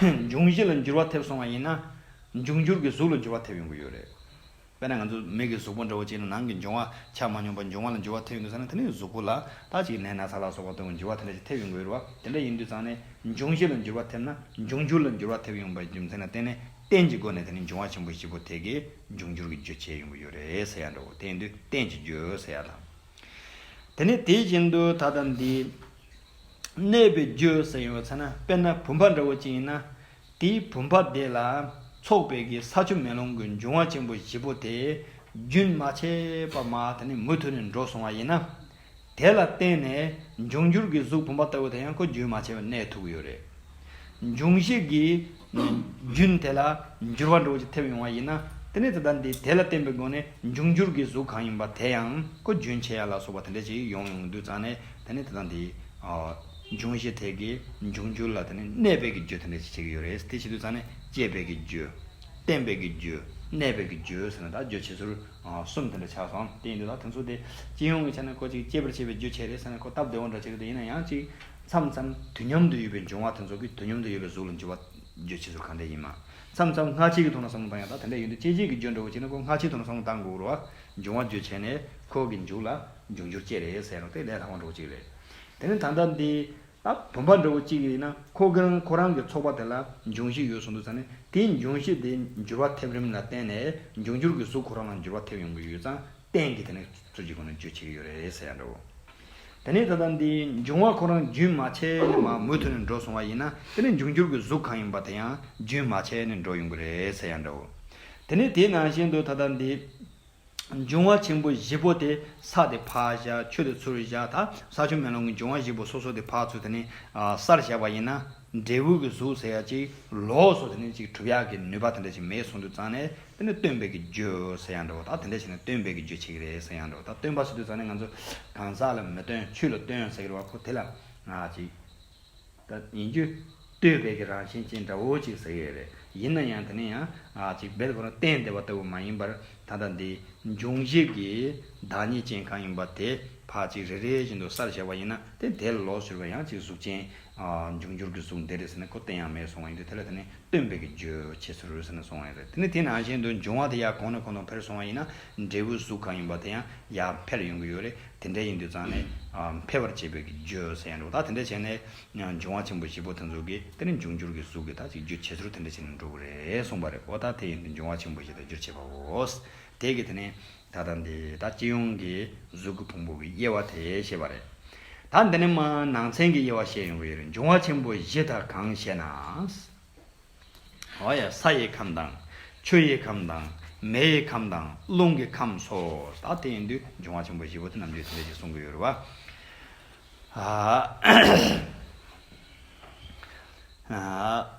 འབྱུང་བཞི་ལ་འགྱུར་བ་ཐེབས་སོང་བ་ཡིན་ན། འབྱུང་འགྱུར་གྱི་གཟུགས་ལ་འགྱུར་བ་ཐེབས་ཡོང་གི་ཡོད་རེད། དཔེར་ན་ང་ཚོ་མིག་གི་གཟུགས་པོ་འདྲ་བོ་གཅིག་ནི་ནང་གི་འབྱུང་བ་ཆགས་མ་མྱོང་པར་འབྱུང་བ་ལ་འགྱུར་བ་ཐེབས་ཡོང་གི་ས་ནི་དེ་ནི་གཟུགས་པོ་ལ་ད་ཅིག་ནད་ན་ཚ་ལ་སོགས་པ་སྟོན་པའི་འགྱུར་བ་དེ་འདྲ་ཞིག་ཐེབས་ཡོང་གི་ཡོད་རེད་བ། དེ་འདྲ་ཡིན་དུས་ཙང་ནས་འབྱུང་བཞི་ལ་འགྱུར་བ་ཐེབས་ན་འབྱུང་འགྱུར་ལ་འགྱུར་བ་ཐེབས་ཡོང་པའི་རྒྱུ་མཚན་ལ་བརྟེན་ནས་རྟེན་གྱི་སྒོ་ནས་དེ་ནི་འབྱུང་བ་ཆེན་པོ་བཞི་པོ་དེ་གས་འབྱུང་འགྱུར་གྱི་རྒྱུ་བྱས་ཡོང་གི་ཡོད་རེད་ཟེར་ཡ་འདྲ་བོ་དེ་ཡིན་དུས་རྟེན་གྱི་རྒྱུ་ཟེར་ཡ་དང། དེ་ནི་དེ་བཞིན་དུ་ད་ལྟ་འདི། གནས་པའི་རྒྱུ་ཟེར་ཡོད་ཚེ་ན་དཔེར་ན་བུམ་པ་འདྲ་བོ་ཅིག་ཡིན་ན། དེའི་བུམ་པ་དེ་ལ་ཚོགས་པའི་གེ་སར་ཆུ་མེ་ལོང་གི་འབྱུང་བ་ཆེན་པོ་བཞི་པོ་དེས་རྒྱུན་མ་ཆད་པར་མ་དེ་ནི་མུ་མཐུད་ནས་འགྲོ་སོང་བ་ཡིན་ན། དེ་ལ་བརྟེན་ནས་འབྱུང་འགྱུར་གྱི་གཟུགས་བུམ་པ་ལྟ་བུ་དེ་ཡང་ཁོ་རྒྱུན་མ་ཆད་པར་གནས་ཐུབ་ཀྱི་ཡོད་རེད། འབྱུང་བྱེད་ཀྱི་རྒྱུན་དེ་ལ་འགྱུར་བ་འགྲོ་བྱེད་ཐེབས་ཡོང་བ་ཡིན་ན། དེ་ནས་དེ་དག་འདི་དེ་ལ་བརྟེན་པའི་སྒོ་ནས་འབྱུང་འགྱུར་གྱི་གཟུགས་གང་ཡིན་པ་དེ་ཡང་ཀུན་རྒྱུན་ཆད་ཡ་ལ་སོགས་པ་དེ་འདྲ་ཅིག་ཡོང་ཡོང་དུས་ཙང་ནས་དེ་ནས་དེ་དག་འདི། འབྱུང་བྱེད་དེ་གའི་འབྱུང་འགྱུར་ལ་དེ་ནས་གནས་དཔལ་གྱི་རྒྱུ་དེ་འདྲ་ཅིག་བྱེད་ཀྱི་ཡོད་རེད། དེ་བྱེད་དུས་ཙང་ནས་སྐྱེས་དཔལ་གྱི་རྒྱུ། བརྟེན་དཔལ་གྱི་རྒྱུ། གནས་དཔལ་གྱི་རྒྱུ་ཟེར་ན་དག་རྒྱུ་བྱེད་ཟུར་གསུམ་དེ་འདྲ་ཆགས་སོང་དེ་ཡིན་དུས་ད་དེ་ཚོ་དེ་སྤྱི་ཡོངས་ཀྱི་ཆ་ནས་ཁོ་ཅིག་སྐྱེས་པར་བྱེད་པའི་རྒྱུ་བྱེད་རེད་ཟེར་ན་ཁོ་སྟབས་བདེ་བོ་འདྲ་བྱེད་ཀྱི་འདུག་ཡིན་ན་ཡང་ཅིག། མཚམས་མཚམས་དུས་མཉམ་དུ་ཡོད་པའི་འབྱུང་བ་དེ་ཚོ་གི་དུས་མཉམ་དུ་ཡོད་པའི་གཟུགས་ལ་འགྱུར་བ་བརྗོད་བྱེད་ཟུར་གང་འདྲས་ཡིན། མཚམས་མཚམས་སྔ་ཕྱི་གི་ཐོག་ན་བསམ་བློ་བཏང་ཡང་དག་དེ་འདྲས་ཡོད་འདུག་དཔྱད་བྱེད་ཀྱི་བརྗོད་འགྲོ་བ་གཅིག་ན་ཁོ་སྔ་ཕྱིའི་ཐོག་ན་བསམ་བློ་བཏང་འགོ་བར་འབྱུང་བ་བརྗོད་བྱས་ནས་ཁོ་གི་མཇུག་ལ་འབྱུང་འགྱུར་བཅས་རེད་ཟེར་རོ་དེ་ལས་ལྷག་པ་འགྲོ་བ་གཅིག་རེད། དེ་ནི་ད་ལྟ་འདི་ལ་བུམ་པ་འགྲོ་བ་གཅིག་ཡིན་ན་ཁོ་གི་རང་ཁོ་རང་གི་ཚོགས་པ་དེ་ལ་འབྱུང་བཞི་ཡོད་གསུངས་འདུག་ཙང་ནི་དེའི་འབྱུང་བཞི་དེ་འགྱུར་བ་ཐེབས་རིམ་ལ་བརྟེན་ནས་འབྱུང་འགྱུར་གྱི་གཟུགས་ཁོ་རང་ལ་འགྱུར་བ་ཐེབས་ཡོང་གི་ཡོད་ཙང། བསྟན་གྱི་དེ་ནས་གཙོ་གྱི་སྒོ་ནས་བརྗོད་བྱེད་ཀྱི་ཡོད་རེད་ཟེར་ཡ་འདྲ་བོ། དེ་ནས་ད་ལྟ་འདི་འབྱུང་བ་ཁོ་རང་རྒྱུན་མ་ཆད་ནས་མ་མུ་མཐུད་ནས་འགྲོ་སོང་བ་ཡིན་ན་དེ་ནས་འབྱུང་འགྱུར་གྱི་གཟུགས་གང་ཡིན་པ་དེ་ཡང་རྒྱུན་མ་ཆད་ནས་འགྲོ་ཡོང་གི་རེད་ཟེར་ཡ་འདྲ་བོ། དེ་ནས་དེ་ནང་བཞིན་དུ་ད་ལྟ་འདི་འབྱུང་བ་ཆེན་པོ་བཞི་པོ་དེ་ས་དེ་ཕག་བཞག་ཆུ་དེ་ཚུར་བཞག་ད་ས་ཆུ་མེ་ལོང་གི་འབྱུང་བ་བཞི་པོ་སོ་སོ་དེ་ཕག་ཚུལ་དེ་ནས་སར་བཞག་པ་ཡིན་ན། འབྲས་བུ་གི་གཟུགས་ཟེར་ཡག་ཅིག་ལོགས་སོ་དེ་ནས་ཅིག་གྲུབ་ཡག་གི་ནུས་པ་དེ་འདྲ་ཅིག་མེད་སོང་དུས་ཙང་ནས་དེ་ནི་སྟོན་པས་ཀྱི་རྒྱུ་ཟེར་ཡག་འདྲ་བོ་ད་དེ་འདྲ་བྱས་ནས་སྟོན་པས་ཀྱི་རྒྱུ་བྱེད་ཀྱི་རེད་ཟེར་ཡག་འདྲ་བོ་ད་སྟོན་པ་བྱེད་དུས་ཙང་ནས་ང་ཚོ་གང་ཟག་ལ་མི་སྟོན་ཆོས་ལ་སྟོན་ཟེར་གྱི་རེད་བ་ཁོ་དེ་ལ་ང་ཅིག་ད་ཡིན་རྒྱུ་སྟོན་པས་ཀྱི་རང་བཞིན་ཅན་འདྲ་བོ་ཅིག་ཟེར་གྱི་རེད་ཡིན་ན་ཡང་དེ་ནི་ཡང་ང་ཅིག་བལ་བོ་རང་བསྟན་བདེ་བ་ལྟ་བུ་མ་ཡིན་པར་ད་ལྟ་འདི་འབྱུང་བཞི་གི་བདག་ཉིད་ཅན་གང་ཡིན་པ་དེ་བག་ཅིག་རེ་རེ་བཞིན་དུ་སར་བཞག་པ་ཡིན་ན་དེ་དེ་ལོགས་སུ་གྱུར་པ་ཡང་ཅིག་གཟུགས་ཅན་འབྱུང་འགྱུར་གྱི་གཟུགས་འདས་རེད་ཟེར་ནས་ཁོ་བསྟན་ཡང་མེད་སོང་བ་ཡིན་དུས་དེ་ལ་དེ་ནི་སྟོན་པའི་གི་རྗོད་བྱེད་ཚུལ་རེད་ཟེར་ནས་སོང་བ་ཡིན་རེད་དེ་ནི་དེ་ནང་བཞིན་དུ་འབྱུང་བ་དེ་ཡར་གོང་ནས་གོང་དུ་འཕེལ་སོང་བ་ཡིན་ན་འབྲས་བུའི་གཟུགས་གང་ཡིན་པ་དེ་ཡང་ཡར་འཕེལ་ཡོང་གི་ཡོད་རེད་དེ་འདྲ་ཡིན་དུས་ཙང་ནས་འཕེལ་བར་བྱེད་པའི་གི་རྗོད་ཟེར་ཡང་འགྲོ་ད་དེ་འདྲ་བྱས་ནས་འབྱུང་བ་ཆེན་པོ་བཞི་པོ་དེ་ཚོ་གི་དེ་ནི་འབྱུང་འགྱུར་གྱི་གཟུགས་ཀྱི་ད་ཅིག་རྗོད་བྱེད་ཚུལ་དེ་འདྲ་བྱས་ནས་འགྲོ་གི་རེད་གསུངས་པ་རེད་གོ་ད་དེ་ཡིན་དུས་འབྱུང་བ་ཆེན་པོ་བཞི་དང་བསྒྱུར་བྱེད་པའོ། དེ་གི་དེ་ནི་ད་ལྟ་འདི་ད་སྤྱི་ཡོངས་ཀྱི་གཟུགས་ཀྱི་ཕུང་པོ་གི་དབྱེ་བ་དེ་ཤེས་པ་རེད། ད་འདི་ནི་མ་ནང་ཚན་གྱི་དབྱེ་བ་བཤད་ཡོང་བའི་འབྱུང་བ་ཆེན་པོ་བཞི་དག་གང་ཞེ་ན། ས་ཡི་ཁམས་དང། ཆུ་ཡི་ཁམས་དང། མེ་ཡི་ཁམས་དང་རླུང་གི་ཁམས་སོ། ད་དེ་ཡིན་དུས་འབྱུང་བ་ཆེན་པོ་བཞི་པོ་དེ་རྣམས་ཀྱི་དེ་འདྲ་ཞིག་གསུང་གི་ཡོད་རེད་བ།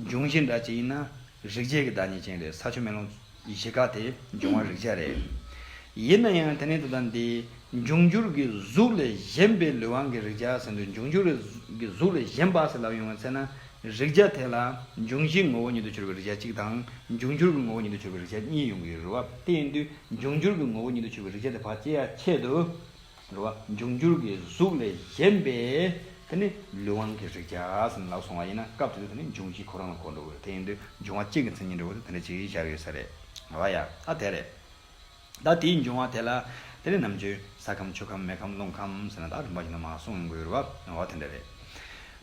འབྱུང་བཞི་འདྲ་ཅི་ཡིན་ན། རིག་བྱེད་ཀྱི་བདག་ཉིད་ཅན་རེད་ས་ཆུ་མེ་རླུང། ཡེ་ཤེས་ཀ་དེ་འབྱུང་བ་རིག་བྱེད་རེད། ཡིན་ན་ཡང་དེ་ནི་དེ་དང་དེའི། འབྱུང་འགྱུར་གྱི་གཟུགས་ལས་གཞན་པའི་ལུས་དབང་གི་རིག་བྱ་ཟེར་འདུག་འབྱུང་འགྱུར་གྱི་གཟུགས་ལས་གཞན་པ་ཟེར་ལབ་ཡོང་བའི་ཚེ་ན། རིག་བྱ་དེ་ལ། འབྱུང་བཞིའི་ངོ་བོ་ཉིད་དུ་གྱུར་པའི་རིག་བྱ་གཅིག་དང། འབྱུང་འགྱུར་གྱི་ངོ་བོ་ཉིད་དུ་གྱུར་པའི་རིག་བྱ་གཉིས་ཡོང་གི་རུ་བ་དེ་ཡིན་དུས་འབྱུང་འགྱུར་གྱི་ངོ་བོ་ཉིད་དུ་གྱུར་པའི་རིག་བྱ་དེ་བར་ཅི་ཡ་ཆད་དུ། འགྲོ་བ་འབྱུང་འགྱུར་གྱི་གཟུགས་ལས་གཞན་པའི་དེ་ནི་ལུས་དབང་གི་རིགས་བྱས་ཟིན་ལགས་སོང་བ་ཡིན་ན་སྐབས་དེ་དུས་དེ་ནི་འབྱུང་བཞི་ཁོ་རང་ལ་གོ་འགྲོ་དགོས་དེ་ཡིན་དུས་འབྱུང་བ་གཅིག་གི་མཚན་ཉིད་འགྲོ་དགོས་དུས་དེ་འདྲ་གཅིག་བཞག་ཡོད་ས་རེད་ང་བ་ཡ་ཨ་དེ་རེད་ད་དེའི་འབྱུང་བ་དེ་ལ་དེ་ནི་ནམ་རྒྱུན་ས་ཁམས་ཆུ་ཁམས་མེ་ཁམས་རླུང་ཁམས་ཟེར་ན་ད་རིམ་པ་ཞིག་ན་མ་གསུངས་དགོས་རུ་བ་ང་བ་དེ་འདྲ་རེད་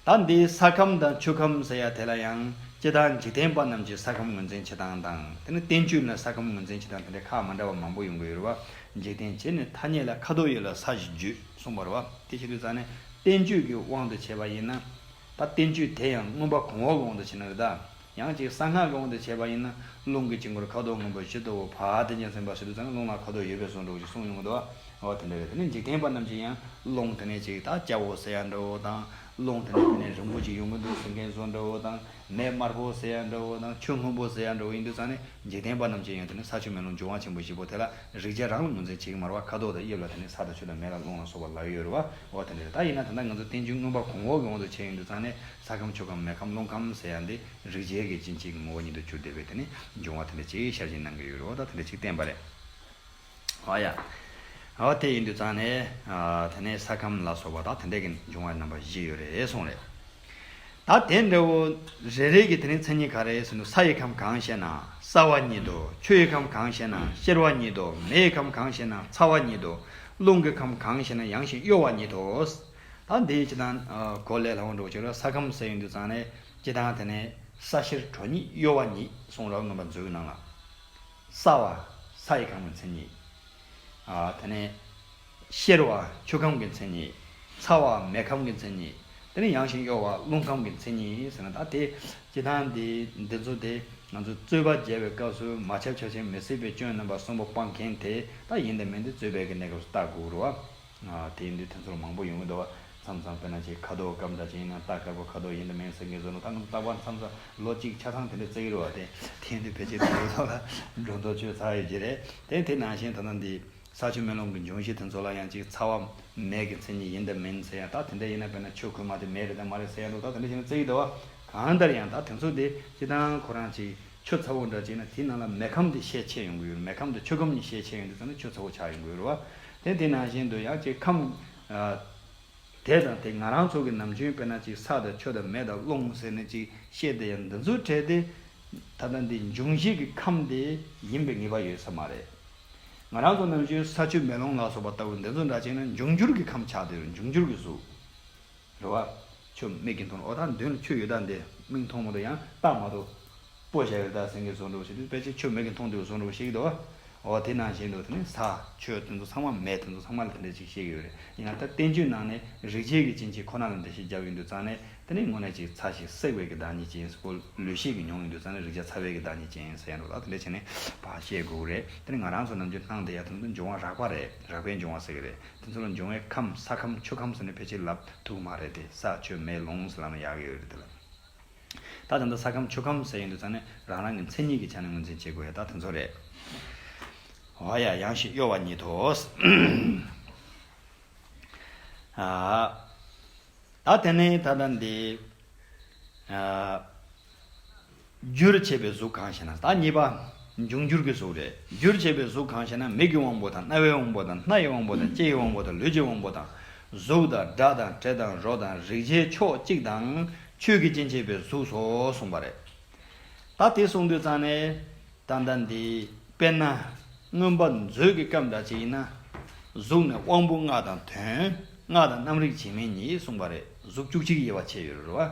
ད་འདི་ས་ཁམས་དང་ཆུ་ཁམས་ཟེར་ཡ་དེ་ལ་ཡང་སྤྱི་དང་འཇིག་རྟེན་པ་རྣམས་ཀྱིས་ས་ཁམས་ངོས་འཛིན་བྱེད་སྟངས་དང་དེ་ནི་བསྟན་བཅོས་ལ་ས་ཁམས་ངོས་འཛིན་བྱེད་སྟངས་དེ་འདྲ་ཁག་མ་འདྲ་བ་མང་པོ་ཡོང་གི་ཡོད་རུ་བ། འཇིག་རྟེན་བྱེད་ནི་ཐ་སྙད་ལ་ཁ་དོག་ཡོད་ལ་ས་གཞི་བརྗོད་གསུངས་པར་བ་དེ་བཞིན་དུ་ས་ནི་བསྟན་བཅོས་ཀྱི་དབང་དུ་བྱས་པ་ཡིན་ན། ད་བསྟན་བཅོས་དེ་ཡང་མངོན་པ་གོང་འོག་ལོང་དུ་བྱེད་ན་རི་དྭགས་ཡང་ཅིག་གསང་སྔགས་ལོང་དུ་བྱས་པ་ཡིན་ན་རླུང་གི་དཀྱིལ་འཁོར་ཁ་དོག་སྔོན་པོ་བཞི་གཙོ་བོ་བ་དེ་ཉིད་ཟིན་པ་ཞིག་ཏུ་ཚང་རླུང་ལ་ཁ་དོག་ཡོད་པས་སོ་འགྲོགས་ཅིག་གསུངས་མྱོང་གདོ་བ་དེ་འདྲ་བས་དེ་ནི་འཇིག་རྟེན་པ་རྣམས་ཀྱིས་ཡང་རླུང་དེ་ནས་ཅིག་ད་སྐྱ་བོ་ཟེར་ཡ་འདྲ་བོ་དང་རླུང་དེ་ནས་དེ་ནས་རིང་པོ་ཅིག་ཡོང་གི་འདུག་ཟེར་མཁན་སོ་འདྲ་བོ་དང། མེ་དམར་པོ་ཟེར་ཡ་འདྲ་བོ་དང་ཆུ་སྔོན་པོ་ཟེར་ཡ་འདྲ་བོ་ཡིན་དུས་ཚང་ནི་འཇིག་རྟེན་པ་རྣམས་ཅན་ཡོད་དེ་ནི་ས་ཆུ་མེ་རླུང་འབྱུང་བ་ཆེན་པོ་བཞི་པོ་དེ་ལ་རིག་བྱེད་རང་ལ་ངོས་འཛིན་བྱེད་ཀྱི་མར་བ་ཁ་དོག་དང་དབྱིབས་ལ་དེ་ནི་ས་དང་ཆུ་དང་མེ་ལ་རླུང་ལ་སོགས་པ་ལ་ཡོད་རེད་བའོ་དེ་འདྲ་རེད་ད་ཡིན་ན་ད་ལྟ་ང་ཚོ་རྟེན་འབྱུང་མངོན་པ་གོང་འོག་གི་དབང་དུ་བྱས་ཡོད་དུས་ཚང་ནི་ས་ཁམས་ཆུ་ཁམས་མེ་ཁམས་རླུང་ཁམས་ཟེར་ཡ་འདི་རིག་བྱེད་ཀྱི་སྤྱི་མཆེད་ཀྱི་ངོ་བོ་ཉིད་དུ་གྱུར་བསྡད་པས་དེ་ནི་འབྱུང་བ་དེ་འདྲ་ཅིག་ཤར་གྱིན་སྣང་གི་ཡོད་རེད་བ་ད་དེ་འདྲ་ཅིག་བསྟན་པ་རེད། ཨོ་ཡ། ཨོ་དེ་ཡིན་དུས་ཙང་ནས། དེ་ནས་ས་ཁམས་ལ་སོགས་པ་དང་དེ་འདྲ་གི་འབྱུང་བ་རྣམ་པ་བཞི་ཡོད་རེད་གསུངས་རེད། ད་དེ་འདྲ་བོ་རེ་རེ་གི་དེ་རིང་མཚན་ཉིད་ག་རེ་ཟིན་དུ་ས་ཡི་ཁམས་གང་ཞེ་ན་སྲ་བ་ཉིད་དོ། ཆུ་ཡི་ཁམས་གང་ཞེ་ན་གཤེར་བ་ཉིད་དོ། མེ་ཡི་ཁམས་གང་ཞེ་ན་ཚ་བ་ཉིད་དོ། རླུང་གི་ཁམས་གང་ཞེ་ན་ཡང་ཞིང་གཡོ་བ་ཉིད་དོ། ད་འདི་སྤྱི་དང། གོ་ལས་ལྷག་མ་འགྲོ་ཕྱིར་ས་ཁམས་ཟེར་ཡོང་དུས་ཙང་ནས་སྤྱི་དང་དེ་ནས་ས་གཤེར་དྲོ་ཉིད་གཡོ་བ་ཉིད་གསུངས་རབས་རྣམ་པ་མཛོད་ཀི་ནང་ལ། སྲ་བ། ས་ཡི་གང་བའི་མཚན་ཉིད། དེ་ནས། གཤེར་བ། ཆུ་གང་གི་མཚན་ཉིད། ཚ་བ། མེ་གང་གི་མཚན་ཉིད། དེ་ནས་ཡང་ཞིང་གཡོ་བ། རླུང་གང་གི་མཚན་ཉིད་ཟེར་ན་ད་དེ། སྤྱི་དང། འདི་ཚོ་དེ། ང་ཚོ་རྩོད་པ་མཇལ་བའི་སྐབས་སུ་མ་ཆགས་ཆགས་ཤིང་མི་སྲིད་པའི་སྐྱོན་རྣམ་པ་གསུམ་པོ་སྤང་མཁན་དེ་དག་ཡིན་དེ་མིན་དེ་རྩོད་པའི་གནས་སྐབས་སུ་བརྟག་དགོས་དགོས་རུང་བ། དེ་ཡིན་དུས་དེ་ཚོར་མང་པོ་ཡོང་གི་འདུག་བ། མཚམས་མཚམས་བོད་ནང་ཆེས་ཁ་དོག་སྐམ་འདྲ་ཅན་ཡིན་ན་རྟ་དཀར་པོ་ཁ་དོག་ཡིན་དུ་མིན་ཟེར་མཁན་ཟོ་ནུ་ད་ནུ་བཏགས་པ་མཚམས་མཚམས་ལོ་གཅིག་ཆ་ཚང་དེ་འདྲས་བརྩེགས་ཀྱི་རུ་བ་དེ། དེ་ཡིན་དུས་ཕལ་ཆེར་དེ་འདྲས་ཚོ་ལ་སྒྲོ་འདོགས་གཅོད་ཚར་ཡོད་ཀྱི་རེད་དེ། དེ་ནང་བཞིན་ད་ལྟ་འདི། ས་ཆུ་མེ་རླུང་གི་འབྱུང་གཞི་དེ་ཚོ་ལ་ཡང་ཅིག་ཚ་བ། མེད་ཀྱི་མཚན་ཉིད་ཡིན་དུ་མིན་ཟེར་ཡང་ད་དེ་འདྲས་ཡིན་ན་དཔེར་ན་ཆུ་ཁོལ་མ་དེ་མེད་རེད་དམ་མ་རེད་ཟེར་ཡང་འདུག་ད་དེ་འདྲས་བྱས་ན་བརྩེགས་ཀྱི་འདུག་བ། གང་ལྟར་ཡང་ད་དེ་ཚོ་དེ་སྤྱི་དང་ཁོ་རང་ཅིག། ཆུ་ཚ་བོ་འདྲ་བྱས་ན་དེའི་ནང་ལ་མེ་ཁམ་དེ་ཤས་ཆེ་ཡོང་གི་ཡོད་རེད་མེ་ཁམ་དང་ཆུ་ཁམ་གཉིས་ཤས་ཆེ་ཡོང་དུས་ཙམ་ནས་ཆུ་ཚ་བོ་ཆགས་ཡོང་གི་ཡོད་རེད་བ། དེ་དེ་ནང་བཞིན་དུ་ཡང་ཅིག་ཁམ། དེ་དང་དེ་ང་རང་ཚོ་གི་ནམ་རྒྱུན་དཔེར་ན་ཅིག་ས་དང་ཆུ་དང་མེ་དང་རླུང་ཟེར་ནས་ཅིག་བཤད་དེ་ཡང་འདི་ཚོ་བྲལ་ཏེ། ད་ལྟ་འདི་འབྱུང་བཞི་གི་ཁམས་དེ་ཡིན་པའི་ངེས་པ་ཡོད་ས་མ་རེད། ང་རང་ཚོ་ནམ་རྒྱུན་ས་ཆུ་མེ་རླུང་ལ་སོགས་པ་ལྟ་བུ་འདི་ཚོ་འདྲ་བྱས་ན་འབྱུང་འགྱུར་གྱི་ཁམས་ཆགས་དུས་འབྱུང་འགྱུར་གྱི་གཟུགས། རེ་བ། ཆུ་མིག་གི་མདུན་ལ་ཨོ་ཐང་མདུན་ལ་ཆུ་ཡོད་སྟངས་དེ་མིག་མཐོང་མོ་འདུག་ཡང་བརྟག་མ་ཐུབ། སྤོ་བྱ་ཡོད་སྟགས་སེང་གེ་བཟོ་འགྲོ་བ་ཞིག་འདུག་དཔེ་ཆའི་ཆུ་མིག་གི་མཐོང་ཐོས་བཟོ་འགྲོ་བ་ཞིག་འདུག་ཨོ་དེ་ནང་བཞིན་འདུག་དེ་ནི་ས་ཆོས་དེ་ཚོ་ཚང་མ་མེད་དེ་ཚོ་ཚང་མ་ལ་དེ་འདྲ་ཅིག་བཤད་ཀྱི་ཡོད་རེད་ཡིན་ནའང་ད་བསྟན་བཅོས་ནང་ནས་རིག་བྱེད་ཀྱི་སྤྱིན་ཆེན་ཁོ་ན་ལ་འགྲེལ་བཤད་བརྒྱབ་ཡོད་འདུག་ཙང་ནས་དེ་ནི་དངོས་གནས་ཅིག་ཚ་ཞིག་བསྲེག་བས་ཀྱི་བདག་ཉིད་ཅན་ཟེར་གོ་ལུས་ཤེས་ཀྱི་མྱོང་ཡོད་འདུག་ཙང་ནས་རིག་བྱ་ཚ་བས་ཀྱི་བདག་ཉིད་ཅན་ཟེར་ཡང་འགྲོ་ལ་དེ་འདྲ་ཆེ་ནས་བ་བཤད་དགོས་རེད་དེ་ནི་ང་རང་ཚོ་ནམ་རྒྱུན་སྣང་བདེ་ཡ་དེ་ཚོ་འབྱུང་བ་རགས་པ་རེད་རགས་པས་འབྱུང་བ་ཟེར་གྱི་རེད། དེ་ཚོ་ལ་འབྱུང་བའི་ཁམས་ས་ཁམས་ཆུ་ཁམས་སུ་ནི་ཕལ་ཆེར་ལབ་ཐུག་མ་རེད་དེ་ས་ཆུ་མེ་ལོང་སུ་ལ་ན་ཡག་ཡོད་རེད་དེ་ལ་ད་ད་ལྟ་ས་ཁམས་ཆུ་ཁམས་ཟེར་ཡོང་དུས་ཙང་ནི་རང་རང་གི་མཚན་ཉིད་ཀྱི་ཆ་ནས་ངོས་འཛིན་བྱེད་དགོས་ཡོད་ད་དེ་ཚོ་རེད། ཨོ་ཡ་ཡང་ཞིག་གཡོ་བ་ཉིད་དོ། ད་དེ་ནི་ད་ལྟ་འདི། རྒྱུར་བྱས་པའི་གཟུགས་གང་ཞེ་ན་བདག་གཉིས་པ། འབྱུང་འགྱུར་གྱི་གཟུགས་རེད། རྒྱུར་བྱས་པའི་གཟུགས་གང་ཞེ་ན་མིག་གི་དབང་པོ་དང་རྣ་བའི་དབང་པོ་དང་སྣ་ཡི་དབང་པོ་དང་ལྕེ་ཡི་དབང་པོ་དང་ལུས་ཀྱི་དབང་པོ་དང། གཟུགས་དང་སྒྲ་དང་དྲི་དང་རོ་དང་རེག་བྱའི་ཕྱོགས་གཅིག་དང་ཆོས་ཀྱི་སྤྱན་བྱས་པའི་གཟུགས་སོ་གསུངས་པ་རེད། ད་དེ་གསུངས་དུས་ཙང་ནས། ད་ལྟ་འདི། དཔེར་ན། མངོན་པ་མཛོད་ཀྱི་སྐབས་འདྲ་ཅིག་ཡིན་ན། གཟུགས་ནི་དབང་པོ་ལྔ་དང་དོན་ལྔ་དང་རྣམ་རིག་བྱེད་མིན་གཉིས་གསུངས་པ་རེད་གཟུགས་བཅུ་གཅིག་དབྱེ་བ་ཕྱེ་ཡོད་རེད་བ།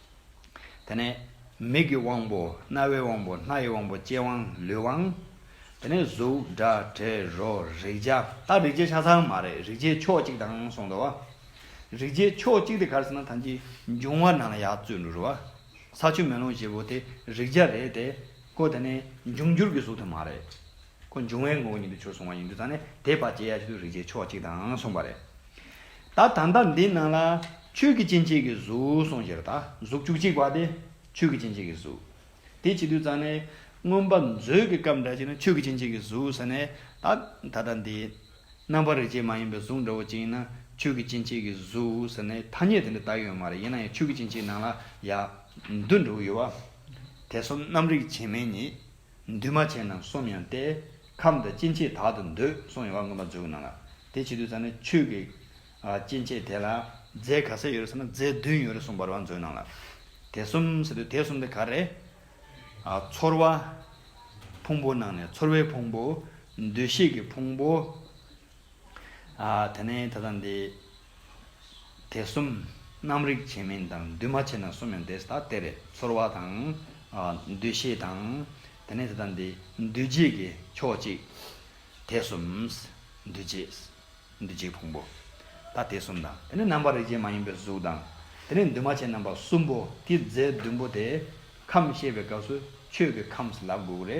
དེ་ནས་མིག་གི་དབང་པོ། རྣ་བའི་དབང་པོ། སྣ་ཡི་དབང་པོ། ལྕེའི་དབང། ལུས་དབང། དེ་ནས་གཟུགས། སྒྲ། དྲི། རོ། རེག་བྱ། ད་རེག་བྱའི་ཆ་ཚང་མ་རེད། རེག་བྱའི་ཕྱོགས་གཅིག་དང་གསུངས་འདུག་བ། རེག་བྱའི་ཕྱོགས་གཅིག་དེ་གར་ཟེར་ན་ཐམས་ཅད་འབྱུང་བ་རྣམས་ལ་ཡག་བཙུད་འགྲོ་རུ་བ། ས་ཆུ་མེ་རླུང་བཞི་པོ་དེ་རེག་བྱ་རེད་དེ། ཀོ་དེ་ནི་འབྱུང་འགྱུར་གྱི་གཟུགས་དེ་མ་རེད། ཁོ་འབྱུང་བའི་ངོགས་ཉིད་དུ་བྱོལ་སོང་བ་ཡིན་དུས་ད་ནི་དེས་བར་ཆད་ཡ་ཞིག་ཏུ་རིག་བྱའི་ཕྱོགས་གཅིག་དང་གསུངས་པ་རེད། ད་ད་ལྟ་འདི་ན་ལ། ཆོས་ཀྱི་སྤྱི་མཆེད་ཀྱི་གཟུགས་གསུངས་ཞེ་ན་ད་གཟུགས་བཅུ་གཅིག་པ་དེ་ཆོས་ཀྱི་སྤྱི་མཆེད་ཀྱི་གཟུགས། དེ་བྱེད་དུས་ད་ནི་མངོན་པ་མཛོད་ཀྱི་སྐབས་འདྲ་ཞིག་ན་ཆོས་ཀྱི་སྤྱི་མཆེད་ཀྱི་གཟུགས་ཟེར་ནས་ད་ད་ལྟ་འདི། རྣམ་པར་རིག་བྱེད་མ་ཡིན་པའི་གཟུགས་འདྲ་བོ་གཅིག་ཡིན་ན་ཆོས་ཀྱི་སྤྱི་མཆེད་ཀྱི་གཟུགས་ཟེར་ནས་ཐ་སྙད་དེ་འདྲ་ད་ཡོད་མ་རེད་ཡིན་ན་ཡང་ཆོས་ཀྱི་སྤྱི་མཆེད་ནང་ལ་ཡ། འདུ་འདྲ་བོ་ཡོད་བ། དེ་སོ་ནམ་རིག་བྱེད་མའི་ཉིད། འདུས་མ་བྱས་རྣམས་གསུམ་ཡང་སྟེ། ཁམས་དང་སྐྱེ་མཆེད་དག་ཏུ་འདོད་གསུངས་ཡོད་པར་མངོན་པར་མཛོད་ཀྱི་ནང་ལ། དེ་བྱེད་དུས་ཙམ་ནས་ཆོས་ཀྱི། སྐྱེ་མཆེད་དེ་ལ། རྫས་ག་ཚད་ཡོད་རེད་ཟེར་ན་རྫས་བདུན་ཡོད་རེད་གསུངས་པར་བར་མཛོད་ནང་ལ། དེ་གསུམ་ཟེར་དུས་དེ་གསུམ་དེ་ག་རེད། ཚོར་བ། ཕུང་པོ་ནང་ནས་ཚོར་བའི་ཕུང་པོ། འདུས་ཤེས་ཀྱི་ཕུང་པོ། དེ་ནས་ད་ལྟ་འདི། དེ་གསུམ། རྣམ་རིག་བྱས་མིན་དང་འདུས་མ་བྱས་ན་གསུམ་ཡང་འདས་ཟླ་སྟེ་རེད། ཚོར་བ་དང། འདུ་ཤེས་དང། དེ་ནས་དེ་དང་དེ། འདུས་བྱས་ཀྱི་ཕྱོགས་གཅིག། དེ་གསུམ། འདུས་བྱས། འདུས་བྱས་ཕུང་པོ། ད་དེ་གསུམ་དང། དེ་ནས་རྣམ་པར་རིག་བྱེད་མ་ཡིན་པའི་གཟུགས་དང། དེ་ནས་འདུས་མ་བྱས་རྣམ་པ་གསུམ་པོ། ཀྱི་རྫས་བདུན་པོ་དེ། ཁམས་བཤད་པའི་སྐབས་སུ། ཆོས་ཀྱི་ཁམས་ལ་དགུག་རེ།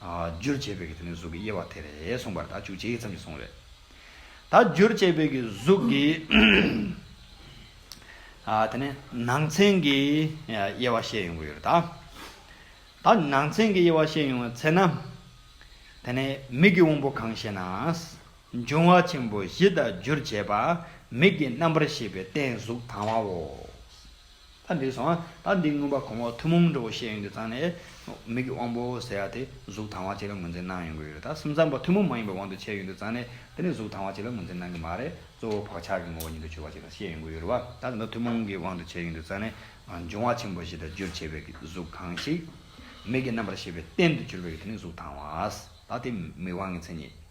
རྒྱུར་བྱས་པའི་གཟུགས་ཀྱི་དབྱེ་བ་དེ་རེད་གསུངས་པར་ད་བཅུ་ཕྱེད་ཙམ་གྱི་གསུང་རེད། ད་རྒྱུར་བྱས་པའི་གཟུགས་ཀྱི་དེ་ནས་ནང་ཚན་གྱི་དབྱེ་བ་བཤད་ཡོང་གི་ཡོད་རེད། ད་ནང་ཚན་གྱི་དབྱེ་བ་བཤད་ཡོང་བའི་ཚེ་ན། དེ་ནས་མིག་གི་དབང་པོ་གང་ཞེ་ན། འབྱུང་བ་ཆེན་པོ་བཞི་དང་རྒྱུར་བྱས་པ་མིག་གི་རྣམ་པར་ཤེས་པའི་རྟེན་གཟུགས་དང་བའོ། ད་འདི་བཟང་ང། ད་འདི་མངོན་པར་གོང་འོག་ཐུན་མོང་འགྲོ་བའི་ཤེས་ཡོན་དེ་ཚང་ནས། མིག་གི་དབང་པོ་ཟེར་ཡག་དེ་གཟུགས་དང་བ་གཅིག་ལ་ངོས་འཛིན་གནང་ཡོང་གི་ཡོད་རེད་ད་སེམས་ཙམ་པ་ཐུན་མོང་མ་ཡིན་པའི་དབང་དུ་བྱས་ཡོད་འདུག་ཚང་ནས་དེ་ནི་གཟུགས་དང་བ་གཅིག་ལ་ངོས་འཛིན་གནང་གི་མ་རེད་གཙོ་བོ་བག་ཆགས་ཀྱི་ངོ་བོ་ཉིད་དུ་གྱུར་པ་གཅིག་དང་ཤེས་ཡོང་གི་ཡོད་རེད་བ། ད་འདི་འདྲ་ཐུན་མོང་གི་དབང་དུ་བྱས་ཡོད་འདུག་ཚང་ནས། འབྱུང་བ་ཆེན་པོ་བཞི་དང་རྒྱུར་བྱས་པའི་གཟུགས་གང་ཞིག། མིག་གི་རྣམ་པར་ཤེས་པའི་རྟེན་དུ་གྱུར་པའི་དེ་ནི་གཟུགས་དང་བ། ད་དེ་མིག་དབང་གི་མཚན་ཉིད།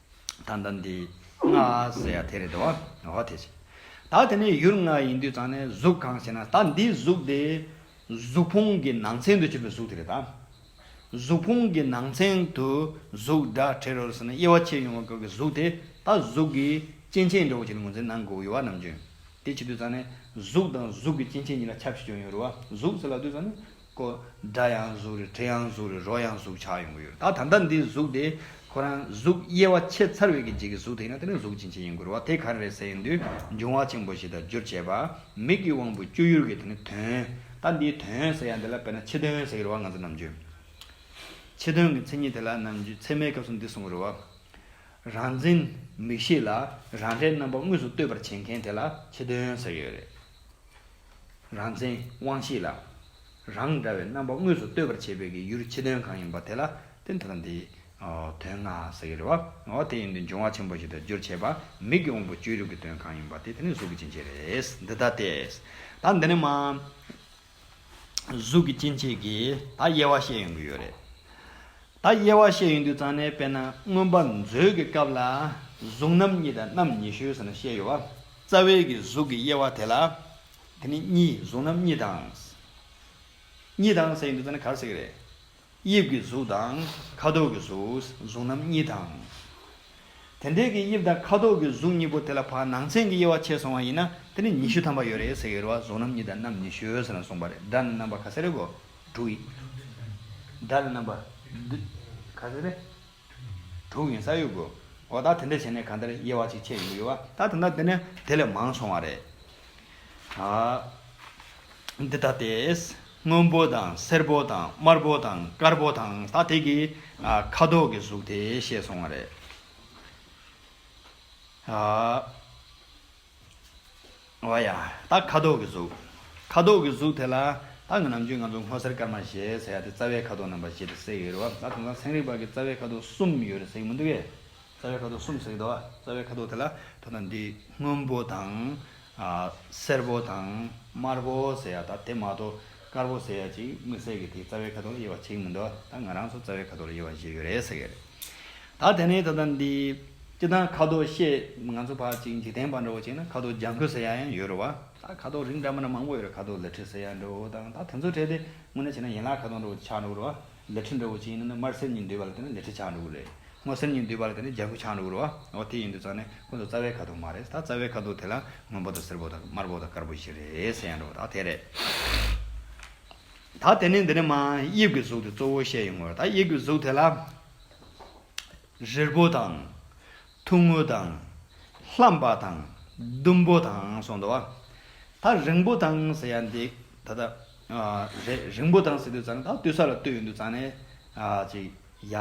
ད་ལྟ་འདི་ང་ཟེར་ཡ་དེ་རེད་དེ་བ་ཧོ་དེ་བྱས། ད་དེ་ནས་ཡུར་ང་ཡིན་དུས་ཙང་ནས་གཟུགས་གང་ཞེ་ན་ད་འདི་གཟུགས་དེ། གཟུགས་ཕུང་གི་ནང་ཚན་དུ་བྱས་པའི་གཟུགས་དེ་རེད་ད། གཟུགས་ཕུང་གི་ནང་ཚན་དུ་གཟུགས་འདྲ་བྲལ་རོ་ཟེར་ན་དབྱེ་བ་ཕྱེ་ཡོང་བ་སྐབས་ཀྱི་གཟུགས་དེ་ད་གཟུགས་ཀྱི་སྐྱེ་མཆེད་འདྲ་བོ་ཞིག་ལ་ངོས་འཛིན་གནང་དགོས་ཡོད་བ་ནམ་བྱུང། དེ་བྱེད་དུས་ཙང་ནས་གཟུགས་དང་གཟུགས་ཀྱི་སྐྱེ་མཆེད་གཉིས་ལ་ཁྱབ་ཤས་ཅུང་ཡོད་རུང་བ་གཟུགས་ཟེར་ལ་དུས་ཙང་ནས་ཀོ། སྒྲ་ཡང་གཟུགས་རེད་དྲི་ཡང་གཟུགས་རེད་རོ་ཡང་གཟུགས་ཆགས་ཡོང་གི་ཡོད་རེད་ད་ད་ལྟ་འདི་གཟུགས་དེ་ཁོ་རང་གཟུགས་དབྱེ་བ་ཕྱེ་ཚར་བའི་གི་འཇིག་གི་གཟུགས་དེ་ཡིན་ན་དེ་ནི་གཟུགས་ཅན་ཅིག་ཡིན་དགོས་རེད་བ་དེ་གང་རེད་ཟེར་ཡོང་དུས་འབྱུང་བ་ཆེན་པོ་ཞིག་དང་བསྒྱུར་བྱས་པ་མིག་གི་དབང་པོའི་སྤྱོད་ཡུལ་གི་དེ་ནི་དོན་ད་འདིའི་དོན་ཟེར་ཡང་དེ་ལ་དཔེར་ན་ཕྱི་དོན་ཟེར་གི་རེད་བ་ང་ཚོ་ནམ་རྒྱུན་ཕྱི་དོན་གི་མཚན་ཉིད་དེ་ལ་ནམ་རྒྱུན་ཚད་མའི་སྐབས་སུ་འདི་གསུང་གི་རེད་བ། རང་འཛིན་མིག་ཤེས་ལ་རང་འདྲའི་རྣམ་པ་དངོས་སུ་གཏོད་པར་བྱེད་མཁན་དེ་ལ་ཕྱི་དོན་ཟེར་ཡོད་རེད། རང་མཚན་དབང་ཤེས་ལ། རང་འདྲ་བའི་རྣམ་པ་དངོས་སུ་ལྟོས་པར་བྱེད་པའི་ཀྱི་ཡུལ་ཕྱི་དོན་གང་ཡིན་པ་དེ་ལ་བརྟེན་ཐབས་དང་དེའི། དོན་ལྔ། ཟེར་གྱི་རེད་བ། འོ་དེ་ཡིན་དུས་འབྱུང་བ་ཆེན་པོ་ཞིག་དང་རྒྱུར་བྱས་པ་མིག་གི་དབང་པོ་བཅུའི་རིགས་ཀྱི་དོན་གང་ཡིན་པ་དེ་དེ་ནི་གཟུགས་ཀྱི་སྐྱེ་མཆེད་རེད། འདི་ལྟ་སྟེ། ད་འདི་ནི་མ། གཟུགས་ཀྱི་སྐྱེ་མཆེད་ཀྱི་ད་དབྱེ་བ་བཤད་ཡོང་གི་ཡོད་རེད། ད་དབྱེ་བ་བཤད་ཡོང་དུས་ཙང་ནས་དཔེར་ན་མངོན་པ་མཛོད་ཀྱི་སྐབས་ལ། གཟུགས་རྣམ་གཉིས་དང་རྣམ་ཉི་ཤུ་ཟེར་ན་བཤད་ཡོད་བ། རྩ་བའི་གི་གཟུགས་ཀྱི་དབྱེ་བ་དེ་ལ། དེ་ནི་གཉིས་གཟུགས་རྣམས་གཉིས་དང། གཉིས་དང་ཟེར་ཡིན་འདུག་ད་ནི་གར་ཟེར་གི་རེད། དབྱིབས་ཀྱི་གཟུགས་དང་ཁ་དོག་གི་གཟུགས་གཟུགས་རྣམས་གཉིས་དང། དེ་འདྲའི་གི་དབྱིབས་དང་ཁ་དོག་གི་གཟུགས་གཉིས་པོ་དེ་ལ་བར་སྣང་ཚན་གྱི་དབྱེ་བ་ཕྱེས་སོང་བ་ཡིན་ན་དེ་ནི་ཉི་ཤུ་ཐམ་པ་ཡོད་རེད་ཟེར་གི་རེད་བ་གཟུགས་རྣམས་གཉིས་དང་རྣམས་ཉི་ཤུ་ཟེར་ན་གསུངས་པ་རེད་སྒྲ་ནི་རྣམ་པ་ག་ཚད་རེད་གོ། དྲུག་ཡིན། སྒྲ་ནི་རྣམ་པ། ག་ཚད་རེད། དྲུག་ཡིན་ས་ཡོད་དགོས། འོ་ད་དེ་འདྲ་བྱས་ནས་གང་ལྟར་དབྱེ་བ་ཅིག་ཕྱེ་ཡོང་གི་ཡོད་བ། ད་དེ་འདྲ་བསྡད་ནས་དེ་ལས་མང་སོང་བ་རེད། འདི་ལྟ་སྟེ། སྔོན་པོ་དང་སེར་པོ་དང་དམར་པོ་དང་དཀར་པོ་དང་ད་དེ་གི་ཁ་དོག་གི་གཟུགས་དེ་བཤད་སོང་བ་རེད། བ་ཡ། ད་ཁ་དོག་གི་གཟུགས། ཁ་དོག་གི་གཟུགས་དེ་ལ། ད་ང་ནམ་རྒྱུན་ང་ཚོ་སྔོ་སེར་དཀར་དམར་ཞེས་ཟེར་ཡ་དེ་རྩ་བའི་ཁ་དོག་རྣམ་པ་ཞེས་དེ་བསྲེས་ཡོད་རེད་བ། ད་དེང་སང་ཚན་རིག་པ་གིས་རྩ་བའི་ཁ་དོག་གསུམ་ཡོད་རེད་ཟེར་གྱི་མི་འདུག་གས། རྩ་བའི་ཁ་དོག་གསུམ་ཟེར་གྱི་འདུག་བ། རྩ་བའི་ཁ་དོག་དེ་ལ་དོ་ན་འདི་སྔོན་པོ་དང། སེར་པོ་དང། དམར་པོ་ཟེར་ཡ་ད་དེ་མ་གཏོགས་དཀར་པོ་ཟེར་ཡ་ཅིག་མི་ཟེར་གི་དེ་རྩ་བའི་ཁ་དོག་ལ་དབྱེ་བ་བྱེད་ཀྱི་མི་འདུག་བ། ད་ང་རང་ཚོ་རྩ་བའི་ཁ་དོག་ལ་དབྱེ་བ་བྱེད་ཡོད་རེད་ཟེར་གྱི་རེད། ད་དེ་ནས་ད་ལྟ་འདི། སྤྱི་དང་ཁ་དོག་ཤེས། ང་ཚོ་བར་གཅིག་འཇིག་རྟེན་པར་འདྲ་བོ་བྱས་ན་ཁ་དོག་ལྗང་ཁུ་ཟེར་ཡག་ཡང་ཡོད་རེད་བ། ད་ཁ་དོག་རིགས་འདྲ་མིན་མང་པོ་ཡོད་རེད་ཁ་དོག་ལི་ཁྲི་ཟེར་ཡག་འདྲ་བོ་དང་ད་དེ་ཚོ་བྲལ་ཏེ་དངོས་གནས་བྱས་ན་ཡན་ལག་ཁ་དོག་འདྲ་བོ་ཆགས་འགྲོ་གི་རེད་བ། ལི་ཁྲི་འདྲ་བོ་ཅིག་ཡིན་ན་ནི་དམར་སེར་གཉིས་འདུས་པ་ལ་བརྟེན་ན་ལི་ཁྲི་ཆགས་འགྲོ་གི་རེད། སྔོ་སེར་གཉིས་འདུས་པ་ལ་བརྟེན་ན་ལྗང་ཁུ་ཆགས་འགྲོ་གི་རེད་བ། འོ་དེ་ཡིན་དུས་ཙང་ནས་ཁོ་ཚོ་རྩ་བའི་ཁ་དོག་མ་རེད་ད་རྩ་བའི་ཁ་དོག་དེ་ལ་སྔོན་པོ་དང་སེར་པོ་དང་དམར་པོ་དང་དཀར་པོ་བཞི་རེད་ཟེར་ཡག་འགྲོ་བ་ད་དེ་རེད། ད་དེ་ནས་འདི་ནས་མ། དབྱིབས་ཀྱི་གཟུགས་དེ་གཙོ་བོ་བཤད་ཡོང་གི་རེད་ད་དབྱིབས་ཀྱི་གཟུགས་དེ་ལ། རིལ་བུ་དང། ཐུང་ངུ་དང། ལྷ་འབའ་དང། ཟླུམ་པོ་དང་གསུངས་འདུག་བ། ད་རིང་པོ་དང་ཟེར་ཡ་འདི་ད་ལྟ། རེད་རིང་པོ་དང་ཟེར་དུས་ཙང་ད་ལྟ་ས་ལ་བཏོད་ཡོད་འདུག་ཙང་ནས། ཅིག། ཡ།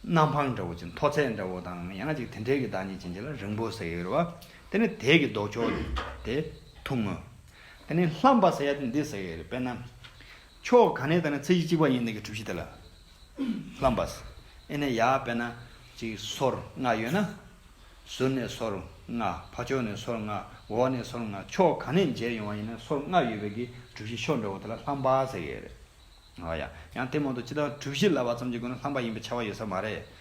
གནམ་འཕང་འདྲ་བོ་ཅིག་མཐོ་ཚད་འདྲ་བོ་དང་ཡང་ཅིག་དེ་འདྲའི་གི་བདག་ཉིད་ཅན་ཅིག་ལ་རིང་པོ་ཟེར་ཡོད་རེད་བ། དེ་ནས་དེའི་གི་ལྡོག་ཕྱོགས། དེ། ཐུང་ངུ། དེ་ནས་ལྷ་འབའ་ཟེར་ཡ་འདི་ཟེར་ཡོད་རེད་དཔེར་ན། ཕྱོགས་གང་ནས་བལྟ་ན་ཚེ་གཅིག་གཅིག་པ་ཡིན་ནི་གི་གྲུ་བཞི་དེ་ལ་ལྷམ་པ། ཨེ་ནས་ཡར་བལྟ་ན་ཅིག་སོར་ལྔ་ཡོད་ན། ཟུར་ནས་སོར་ལྔ་ཕ་ཕྱོགས་ནས་སོར་ལྔ་འོག་ནས་སོར་ལྔ་ཕྱོགས་གང་ནས་མཇལ་ཡོང་བ་ཡིན་ན་སོར་ལྔ་ཡོད་པའི་གི་གྲུ་བཞི་ཕྱོགས་འདྲ་བོ་དེ་ལ་ལྷམ་པ་ཟེར་གི་ཡོད་རེད། ཡང་ལྟད་མོ་དང་སྤྱི་དང་གྲུ་བཞི་ལ་བ་ཙམ་གྱི་སྒོ་ནས་ལྷམ་པ་ཡིན་པའི་ཆ་བ་ཡོད་ས་མ་རེད།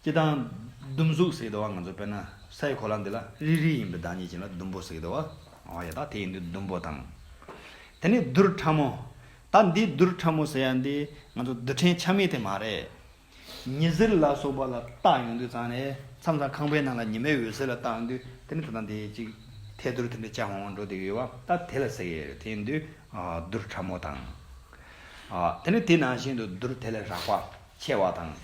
སྤྱི་དང། ཟླུམ་གཟུགས་ཟེར་གདའ་བ་ང་ཚོ་དཔེར་ན་སའི་གོ་ལ་འདི་ལ་རིལ་རིལ་ཡིན་པའི་བདག་ཉིད་ཅན་ལ་ཟླུམ་པོ་ཟེར་གདའ་བ་ང་བ་ཡོད་ད་དེ་ཡིན་དུས་ཟླུམ་པོ་དང། དེ་ནས་རྡུལ་ཕྲ་མོ། ད་འདི་རྡུལ་ཕྲ་མོ་ཟེར་ཡ་འདི་ང་ཚོ་རྡུལ་ཕྲན་ཆ་མེད་དེ་མ་རེད། ཉི་ཟེར་ལ་སོགས་པ་ལ་བཏགས་ཡོང་དུས་ཙང་ནས་མཚམས་ཙང་ཁང་པའི་ནང་ལ་ཉི་མའི་འོད་ཟེར་ལ་བཏགས་ཡོང་དུས་དེ་ནས་ད་ལྟ་འདི་ཅིག་ཐལ་རྡུལ་དེ་འདྲ་ལྕགས་ཧོང་ཧོང་འགྲོ་དེ་ཡོད་བ་ད་དེ་ལ་ཟེར་ཡས་རེད་དེ་ཡིན་དུས་རྡུལ་ཕྲ་མོ་དང། དེ་ནས་དེ་ནང་བཞིན་དུ་རྡུལ་དེ་ལས་རགས་པ་ཆེ་བ་དང།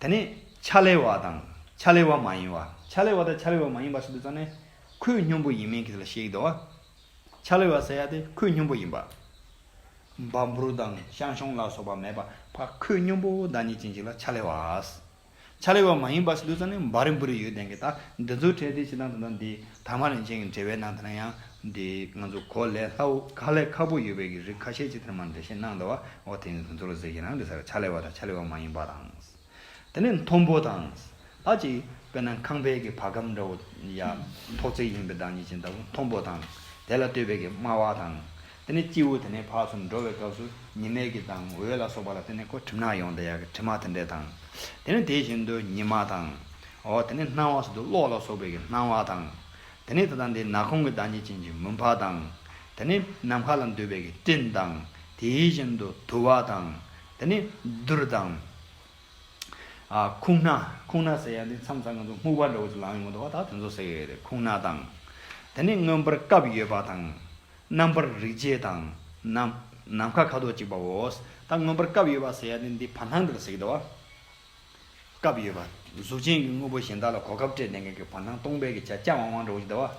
དེ་ནས་ཕྱག་ལེ་བ་དང་ཕྱག་ལེ་བ་མ་ཡིན་བ། ཕྱག་ལེ་བ་དང་ཕྱག་ལེ་བ་མ་ཡིན་པ་ཞིག་ཏུ་བརྩམས་ནས། ཁོས་སྙོམས་པོ་ཡིན་མིན་གྱི་ལ་ཞིག་དང། ཕྱག་ལེ་བ་ཟེར་ཡ་དེ་ཁོས་སྙོམས་པོ་ཡིན་པ། འབའ་འབུར་དང་ཤང་ཤོང་ལ་སོགས་པ་མེད་པ་བ་ཁོས་སྙོམས་པོ་བདག་ཉིད་ཅན་ཞིག་ལ་ཕྱག་ལེ་བ། ཕྱག་ལེ་བ་མ་ཡིན་པ་ཞིག་ཏུ་བརྩམས་ནས་འབའ་རིན་པོ་རི་ཡོད་ལྡན་གྱི་དག་འདི་ཚོའི་གྲས་དེ་ཕྱི་དང་དོན་དང་འདི། དྭངས་མ་རིན་ཆེན་གྱི་འགྲེལ་བའི་ནང་དུ་ན་ཡང། འདི་ང་ཚོ་གོ་ལའི་ལྷ་འུག་ག་ལས་ཁ་པོ་ཡོད་པའི་གི་རིགས་ཁ་ཤས་ཅིག་དེར་མར་འགྲེལ་བཤད་གནང་འདུག་བ་འོ་དེ་ནི་དོན་ཚོར་ཟེར་གྱི་རང་རེད་ཟེར་བ་ཆ་ལེ་བ་དང་ཆ་ལེ་བ་མ་ཡིན་པ་དང། དེ་ནས་མཐོན་པོ་དང། ཨ་ཅེ། དཔེར་ན་ཁང་པའི་གི་བ་གམ་འདྲ་བོ། ཡ། ཐོག་བརྩེགས་ཡིན་པའི་བདག་ཉིད་ཅན་ལྟ་བུ་མཐོན་པོ་དང། དེ་ལ་ལྟོས་པའི་གི་དམའ་བ་དང། དེ་ནས་སྐྱེས་བུ་དེ་ནས་འཕགས་སུ་འགྲོ་བའི་སྐབས་སུ་ཉི་མའི་གི་དང་འོད་ལ་སོགས་པ་ལ་བརྟེན་ནས་ཁོ་གྲིབ་ནག་ཡོང་སྟེ་ཡར་གྱི་གྲིབ་མ་དེ་འདྲས་དང། དེ་ནས་དེ་བཞིན་དུ་ཉི་མ་དང། འོ་དེ་ནས་སྣང་བ་སོགས་དུ་གློག་ལ་སོགས་པའི་གི་སྣང་བ་དང། དེ་ནས་ད་ལྟ་འདི་ནག་ཁུང་གི་བདག་ཉིད་ཅན་གྱི་མུན་ཕག་དང། དེ་ནས་ནམ་མཁའ་ལ་འདུས་པའི་གི་སྤྲིན་དང། དེ་བཞིན་དུ་དུ་བ་དང། དེ་ནས་རྡུལ་དང། ཁུང་སྣ། ཁུང་སྣ་ཟེར་ཡང་འདི་མཚམས་ཚང་ང་ཚོ་སྨུག་པ་འདྲ་བོ་ཅིག་ལངས་ཡོང་གི་འདུག་བ་དག་དེ་ཚོ་ཟེར་གི་ཡོད་རེད་ཁུང་སྣ་དང། དེ་ནས་མངོན་པར་སྐབས་ཡོད་པ་དང། རྣམ་པར་རིག་བྱེད་དང། ནམ་མཁའ་ཁ་དོག་གཅིག་པའོ། ད་མངོན་པར་སྐབས་ཡོད་པར་ཟེར་ཡ་ནི་འདི་བར་སྣང་དེར་ཟེར་གྱི། སྐབས་ཡོད་པ། གཟུགས་ཅན་གྱི་དངོས་པོ་གཞན་དག་ལ་གོ་སྐབས་སྤྲད་ནས་ངེས་ཀྱི་བར་སྣང་སྟོང་པའི་གི་ཆ་ལྕགས་དབང་དབང་འདྲ་བོ་ཅིག་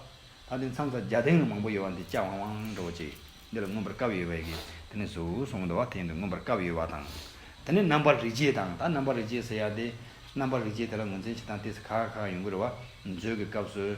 ཟླ་བ། ད་འདི་མཚམས་ས་བརྒྱ་སྟེང་ན་མང་པོ་ཡོད་པ་འདི་ལྕགས་དབང་དབང་འདྲ་བོ་ཅིག། འདི་ལ་མངོན་པར་སྐབས་ཡོད་པའི་གི། དེ་ནི་གཟུགས་སོ་ཟླ་བ་དེ་ཡིན་དུ་མངོན་པར་སྐབས་ཡོད་པ་དང། དེ་ནི་རྣམ་པར་རིག་བྱེད་དང་ད་རྣམ་པར་རིག་བྱེད་ཟེར་ཡ་དེ། རྣམ་པར་རིག་བྱེད་དེ་ལ་ངོས་འཛིན་བྱེད་སྟངས་དེ་སི་ཁ་ཁ་ཡོང་གི་རེད་བ། མཛོད་ཀྱི་སྐབས་སུ།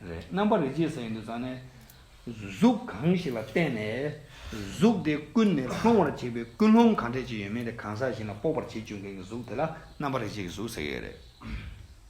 རེད། རྣམ་པར་རིག་བྱེད་ཟེར་ཡིན་དུ་ཙང་ནས། གཟུགས་གང་ཞིག་ལ་བརྟེན་ནས་གཟུགས་དེ་ཀུན་ནས་སློང་བར་བྱེད་པའི་ཀུན་སློང་གང་དྲན་བྱེད་ཡོད་མེད་དེ་གང་ཟག་གཞན་ལ་དཔོག་པར་བྱེད་བཅུག་མཁན་གྱི་གཟུགས་དེ་ལ་རྣམ་པར་རིག་བྱེད་ཀྱི་གཟུགས་ཟེར་གྱི་ཡོད་རེད།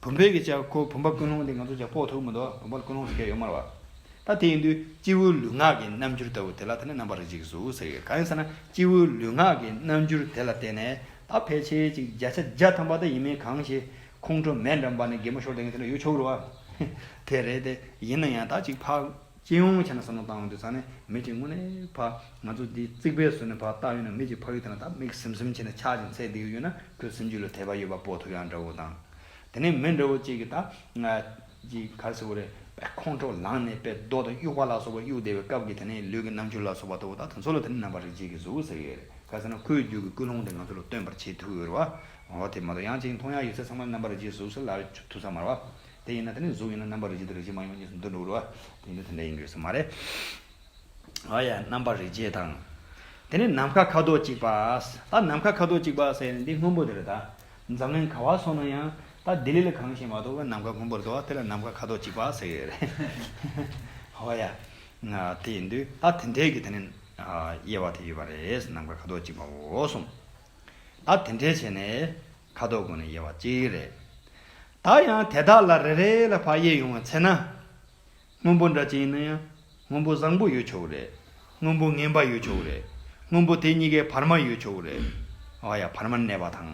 བུམ་པའི་གི་ཅག་ཁོ་བུམ་པ་ཀུན་སློང་དེ་ང་ཚོ་ཅག་དཔོག་ཐུབ་མི་འདུག་བུམ་པ་ཀུན་སློང་ཟེར་མཁན་ཡོད་མ་རེད་བ། ད་དེ་ཡིན་དུས་སྤྱི་བོའི་ལུས་ངག་གི་རྣམ་འགྱུར་ལྟ་བུ་དེ་ལ་དེ་ནི་རྣམ་པར་རིག་བྱེད་ཀྱི་གཟུགས་ཟེར་གྱི་ཡོད་གང་ཡིན་ཟེར་ན་སྤྱི་བོའི་ལུས་ངག་གི་རྣམ་འགྱུར་དེ་ལ་བརྟེན་ནས་ད་ཕལ་ཆེར་ཅིག་བརྒྱ་ཆ་བརྒྱ་ཐམ་པ་ད་ཡིན་མིན་གང་ཞིག་ཁོང་ཁྲོ་མེད་འགྲམ་པ་ནས་སྒེག་མོ་ཤོར་བསྡད་མཁན་དེ་འདྲ་ཡོད་ཆོག་གི་རེད་བ། ཧེ། དེ་རེད་དེ། ཡིན་ན་ཡང་ད་ཅིག་འཕགས། སྤྱི་ཡོངས་བྱས་ན་ས་ནོར་བཏང་བ་འདི་ཚང་ནས་མི་གཅིག་དངོས་ནས་འཕགས། ང་ཚོ་འདི་རྩིག་པའི་ཟུར་ནས་འཕགས་བཏགས་ཡོད་ན་མི་གཅིག་འཕགས་ཡོད་དེ་ན་ད་མིག་ཟིམ་ཟིམ་བྱས་ནས་ཆག་ཅིང་ཚེ་འདི་ཡོད་ཡོད་ན་ཁོའི་སེམས་རྒྱུད་ལ་དད་པ་ཡོད་པ་པོ་ཐུབ་ཡག་འདྲ་བོ་དང། དེ་ནས་མི་འདྲ་བོ་གཅིག་གིས་ད། ཅིག་གར་སེ་བོ་རེད་པས་ཁོང་ཁྲོ་ལངས་ནས་པས་རྡོ་དང་དབྱུག་པ་ལ་སོགས་པ་གཡུག་བསྡད་པའི་སྐབས་ཀྱི་དེ་ནས་ལུས་ཀྱི་རྣམ་འགྱུར་ལ་སོགས་པ་ལྟ་བུ་དག་དེ་ཚོ་ལ་དེ་ནི་རྣམ་པ་རིག་བྱེད་ཀྱི་གཟུགས་ཟེར་གི་རེད་ག་ཟེ་ན་ཁོའི་རྒྱུད་ཀྱི་ཀུན་སློང་དེ་ང་ཚོ་ལ་སྟོན་པར་བྱེད་ཐུབ་ཀྱི་རེད་བ། ངོ་བོ་དེ་མ་གཏོགས་ཡང་གཅིག་མཐོང་ཡང་ཡོད་ཚད་ཚང་མ་རྣམ་པར་རིག་བྱེད་གཟུགས་སུ་ལར་ཐུག་ས་མ་རེད། དེ་ཡིན་ན་དེ་ནི་གཟུགས་ཡིན་ན་རྣམ་པར་རིག་བྱེད་དེ་རིག་བྱེད་མ་ཡིན་པ་གཉིས་སུ་འདུ་འགྲོ་གི་རེད། དེ་ཡིན་དུས་དེ་འདྲ་ཡིན་དགོས་ས་མ་རེད། ཨ་ཡ་རྣམ་པར་རིག་བྱེད་དང། དེ་ནི་ནམ་མཁའ་ཁ་དོག་གཅིག་པ། ད་ནམ་མཁའ་ཁ་དོག་གཅིག་པ་ཟེར་ནས་འདི་སྔོན་པོ་དེར་ད་འཛམ་གླིང་ག་བ་སོང་ན་ཡང་ད་ལྡི་ལི་ལ་གང་ཞིག་མ་གཏོགས་བོད་ནམ་མཁའ་སྔོན་པོར་འདུག་ཨ་དེ་ལ་ནམ་མཁའ་ཁ་དོག་གཅིག་པ་ཟེར་གི་རེད། ཨ་ཡ། དེ་ཡིན་དུས་ད་དེ་འདྲས་ཀྱི་དེ་ནི་དབྱེ་བ་དེ་ཡོད་པ་རེད་ནམ་མཁའ་ཁ་དོག་གཅིག་པའོ་གསུངས། ད་དེ་འདྲས་བྱས་ནས་ཁ་དོག་གོན་ནས་ཡལ་བ་གཅིག་རེད། ད་ཡང་དེ་དག་ལ་རེ་རེ་ལ་བག་ཡས་ཡོང་བ་འཚལ་ན། སྔོན་པོ་འདྲ་ཅི་ཡིན་ན་ཡང་སྔོན་པོ་བཟང་པོ་ཡོད་ཆོག་གི་རེད། སྔོན་པོ་ངན་པ་ཡོད་ཆོག་གི་རེད། སྔོན་པོ་དེ་གཉིས་ཀའི་བར་མ་ཡོད་ཆོག་གི་རེད། ཨོ་ཡ་བར་མར་གནས་པ་དང།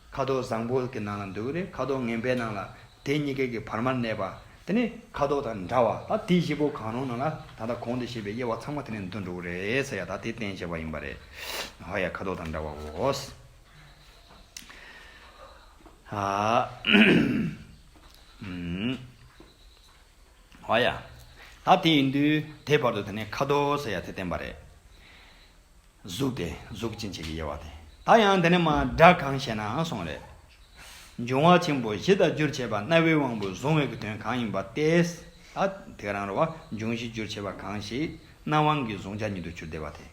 ཁ་དོག་བཟང་པོ་གི་ནང་ལ་འདུག་གི་རེད་ཁ་དོག་ངན་པའི་ནང་ལ་དེ་གཉིས་ཀའི་གི་བར་མར་གནས་པ་དེ་ནི་ཁ་དོག་དང་འདྲ་བ་ད་དེ་བཞི་པོ་གང་རུང་ནང་ལ་ད་ལྟ་གོང་དུ་བཤད་པའི་དབྱེ་བ་ཚང་མ་དེ་ནས་འདུ་འགྲོ་གི་རེད་ས་ཡ་ད་དེ་བསྟན་བྱས་པ་ཡིན་པ་རེད་ཧ་ཡ་ཁ་དོག་དང་འདྲ་བ་བོ། ཧ་ཡ། ད་དེ་ཡིན་དུས་དེ་བར་དུ་དེ་ནི་ཁ་དོག་ས་ཡ་དེ་བསྟན་པ་རེད། གཟུགས་ཏེ་གཟུགས་ཅན་བྱེད་ཀྱི་དབྱེ་བ་སྟེ། ད་ཡང་འདི་ནི་མ་འདྲ་གང་ཞེ་ན་གསུངས་རེ། འབྱུང་བ་ཆེན་པོ་བཞི་དང་རྒྱུར་བྱས་པ་རྣ་བའི་དབང་པོས་གཟུང་བའི་དོན་གང་ཡིན་པ་སྟེ། ད་དེ་རང་རོ་བ་འབྱུང་བཞིའི་རྒྱུར་བྱས་པ་གང་ཞིག་རྣ་དབང་གིས་གཟུང་བྱ་ཉིད་དུ་གྱུར་བདེ་བ་སྟེ།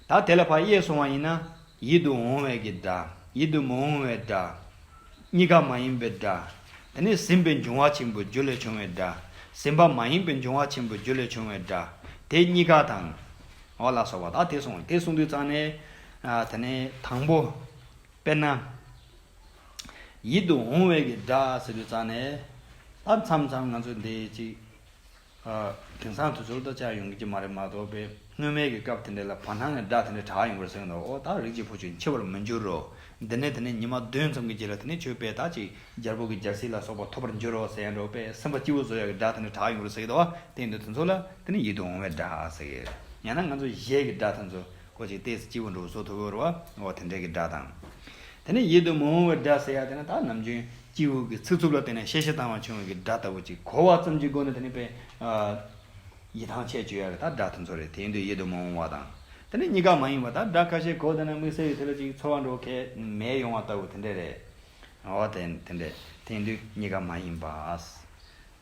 ད་དེ་ལ་བ་གཡས་བཟུང་བ་ཡིན་ན། ཡིད་དུ་འོང་བས་ཀྱི་སྒྲ། ཡིད་དུ་མི་འོང་བའི་སྒྲ། གཉིས་ཀ་མ་ཡིན་པའི་སྒྲ། དེ་ནས་ཟིན་པའི་འབྱུང་བ་ཆེན་པོའི་རྒྱུ་ལས་བྱུང་བའི་སྒྲ། ཟིན་པ་མ་ཡིན་པའི་འབྱུང་བ་ཆེན་པོའི་རྒྱུ་ལས་བྱུང་བའི་སྒྲ། དེ་གཉིས་ཀ་དང། འོག་ལ་སོགས་པ་དག་དེ་གསུངས། དེ་གསུངས་དུས་གཙང་ནས། དེ་ནས་དང་པོ། དཔེར་ན། ཡིད་དུ་འོང་བའི་གྱི་སྒྲ་ཟེར་དུས་གཙང་ནས། ད་མཚམས་མཚམས་ང་ཚོས་འདི་ཅིག། དེང་སང་དུས་ཚོད་ལྟར་དཔྱད་ཡོང་གི་མ་རེད་མ་གཏོགས་པའི་སྔོན་མའི་གི་སྐབས་དེ་འདྲ་ལ་བར་སྣང་གི་སྒྲ་དེ་འདྲ་གྲགས་ཡོང་གི་རེད་གསུངས་གི་འདུག་ཨོ་ད་རིགས་གཅིག་བུ་ཆུ་འཁྱིལ་བར་མི་འགྱུར་རོ། འདི་ནས་དེ་ནས་ཉི་མ་བདུན་ཙམ་གྱི་རྗེས་ལ་དེ་ནས་ཆོས་དཔེ་དག་ཅིག་སྦྱར་བུ་གི་སྦྱར་སྲིད་ལ་སོགས་པ་ཐོབ་པར་འགྱུར་རོ་ཟེར་ཡང་འགྲོགས་པས་སེམས་པ་སྐྱིད་པོ་བཟོ་ཡག་གི་སྒྲ་དེ་འདྲ་གྲགས་ཡོང་གི་རེད་ཟེར་གི་འདུག་དེང་དུས་དུས་ཚོད་ལ། དེ་ནི་ཡིད་དུ་འོང་བའི་སྒྲ་ཟེར། ཡང་ན་ང་ཚོ་གཞས་ཀྱི་སྒྲ་དེ་ཚོ་ཀོ་ཅིག་སྟེ་སྤྱི་བོ་འབྲུག་གསོ་ཐུ་བོར་བ་འོ་དེ་འདྲའི་གི་སྒྲ་དང། དེ་ནི་ཡིད་དུ་མི་འོང་བའི་སྒྲ་ཟེར་ཡ་དེ་ནི་དག་ནམ་རྒྱུན་སྐྱིད་དབུགས་ཀྱི་ཚིག་རྩུབ་ལ་བརྟེན་ནས་གཤེ་གཤེ་བཏང་བ་བྱུང་བའི་གི་སྒྲ་ལྟ་བུ་ཅིག་གོ་བ་ཙམ་གྱི་སྒོ་ནས་དེ་ནི་དཔེ། ཡི་ཐང་ཆད་གཅོད་ཡ་རེ་དག་སྒྲ་དེ་ཚོ་རེད་དེ་ཡིན་དུས་ཡིད་དུ་མི་འོང་བ་དང། དེ་ནི་གཉིས་ཀ་མ་ཡིན་པ་དག་སྒྲ་ཁ་ཤས་གོ་བསྡད་ན་དམིགས་བསལ་ཡུལ་དེ་ལ་ཅིག་ཚོར་བ་འགྲོ་གལ་མེད་ཡོང་བ་ལྟ་བུ་དེ་འདྲས་རེད། འོ་དེ་འདྲས་དེ་ཡིན་དུས་གཉིས་ཀ་མ་ཡིན་པ།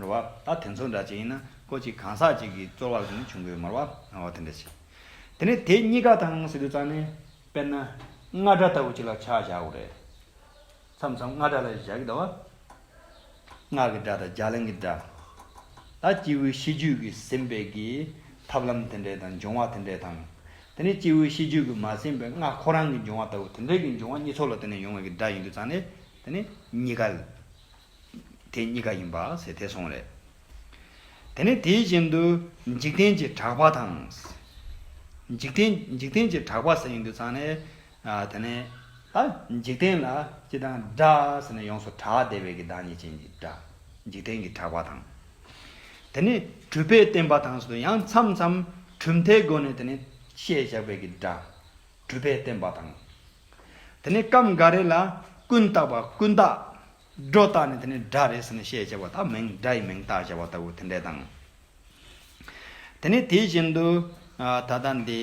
མོར་བ། ད་དེ་ཚོ་འདྲ་ཅན་ཡིན་ན་ཀོ་ཅིག་གང་ཟག་ཅིག་གི་རྩོལ་བ་ལས་བྱུང་གི་མོར་བ། འོ་དེ་འདྲ་ཞིག། དེ་ནས་དེ་གཉིས་ཀ་དང་སི་ཏུ་རྩ་ནས། དཔེར་ན། རྔ་སྒྲ་ལྟ་བུ་ཅིག་ལ་ཆ་བཞག་གོ། རེད། མཚམས་མཚམས་རྔ་སྒྲ་ལ་བཞག་གི་ད་བ། ངག་གི་སྒྲ་དང་རྒྱ་གླིང་གི་སྒྲ། ད་སྐྱེས་བུའི་ཤེས་རྒྱུད་ཀྱི་ཟིན་པའི་གི། ཐབས་ལམ་དེ་འདྲའི་དང་འབྱུང་བ་དེ་འདྲའི་དང། དེ་ནས་སྐྱེས་བུའི་ཤེས་རྒྱུད་ཀྱི་མ་ཟིན་པའི་རྔ་ཁོ་རང་གི་འབྱུང་བ་ལྟ་བུ་དེ་འདྲའི་གི་འབྱུང་བ་གཉིས་ཚོགས་ལ་དེ་ནས་ཡོང་བའི་གི་སྒྲ་ཡིན་དུ་རྩ་ནས། དེ་ནས་གཉིས་ཀ། དེ་གཉིས་ཀ་ཡིན་པ་ཟེར་ཐལ་སོང་རེད། དེ་ནས་དེའི་རྗེས་འདུ་འཇིག་རྟེན་གྱི་གྲགས་པ་དང། འཇིག་རྟེན་འཇིག་རྟེན་གྱི་གྲགས་པ་ཟེར་ཡོང་དུས་ཙང་ནས། དེ་ནས། ཨ། འཇིག་རྟེན་ལ་ཅི་དང་འདྲ་ཟེར་ནས་ཡོངས་སུ་གྲགས་བདེ་བའི་གི་བདག་ཉིད་ཅན་གྱི་གྲགས། འཇིག་རྟེན་གྱི་གྲགས་པ་དང། དེ་ནས་གྲུབ་པའི་བསྟན་པ་དང་ཟེར་དུས་ཡང་མཚམས་མཚམས་གྲུབ་མཐའི་སྒོ་ནས་དེ་ནས་བཤད་བཞག་པའི་གི་གྲགས། གྲུབ་པའི་བསྟན་པ་དང། དེ་ནས་སྐབས་འགའ་རེ་ལ། ཀུན་བཏགས་པ་ཀུན་བཏགས། སྒྲོ་བཏགས་ནི་དེ་ནི་སྒྲ་རེད་ཟེར་ནས་བཤད་ཅེས་པ་དག་མིང་སྒྲ་ཡི་མིང་བཏགས་ཅེས་པ་ལྟ་བུ་དེ་འདྲས་དང། དེ་ནས་དེ་བཞིན་དུ། ད་ལྟ་འདི།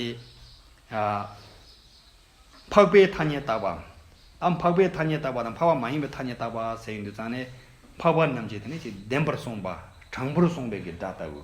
འཕགས་པའི་ཐ་སྙད་བཏགས་པའམ། འཕགས་པའི་ཐ་སྙད་བཏགས་པ་དང་འཕགས་པ་མ་ཡིན་པའི་ཐ་སྙད་བཏགས་པ་ཟེར་ཡོད་འདུག་ཙང་ནས། འཕགས་པ་རྣམས་ཀྱིས་དེ་ནི་ཅིག་བདེན་པར་གསུངས་པ། དྲང་པོར་གསུངས་པའི་གི་སྒྲ་ལྟ་བུ།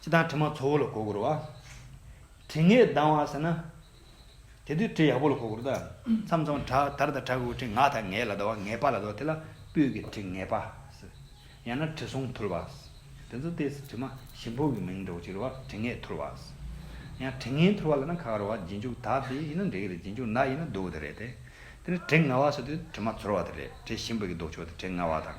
ཅི་དང་དྲི་མ་ཚོགས་བོ་ལ་གོ་བགོར་བ། དྲི་ངད་ལྡང་བ་ཟེར་ན། དེ་དུས་དྲི་ཡག་པོ་ལ་གོ་བགོར་ད། མཚམས་མཚམས་དྲག་དར་དང་དྲག་གུ་དྲི་ང་དང་ངད་ལ་ལྡང་བ་ངད་པ་ལ་ཟློ་བ་དེ་ལ་སྤོས་ཀྱི་དྲི་ངད་པ་ཟེར། ཡང་ན་དྲི་བསུང་འཐུལ་བ། དེ་ཚོ་སྟེ་དྲི་མ་ཞིམ་པོ་གི་མིང་འདྲ་བོ་གཅིག་རེད་བ་དྲི་ངད་འཐུལ་བ། ཡང་དྲི་ངན་འཐུལ་བ་ལ་ན་ཁ་ཁར་བ་རྗེས་འཇུག་དག་དེ་ཡིན་ན་འགྲིག་གི་རེད་རྗེས་འཇུག་ནག་ཡིན་ན་སྡུག་གི་རེད་དེ། དེ་ནི་དྲི་ང་བ་ཟེར་དུས་དྲི་མ་ཚོར་བ་དེ་རེད་དྲི་ཞིམ་པོ་གི་ལྡོག་ཕྱོགས་དེ་དྲི་ང་བ་དང།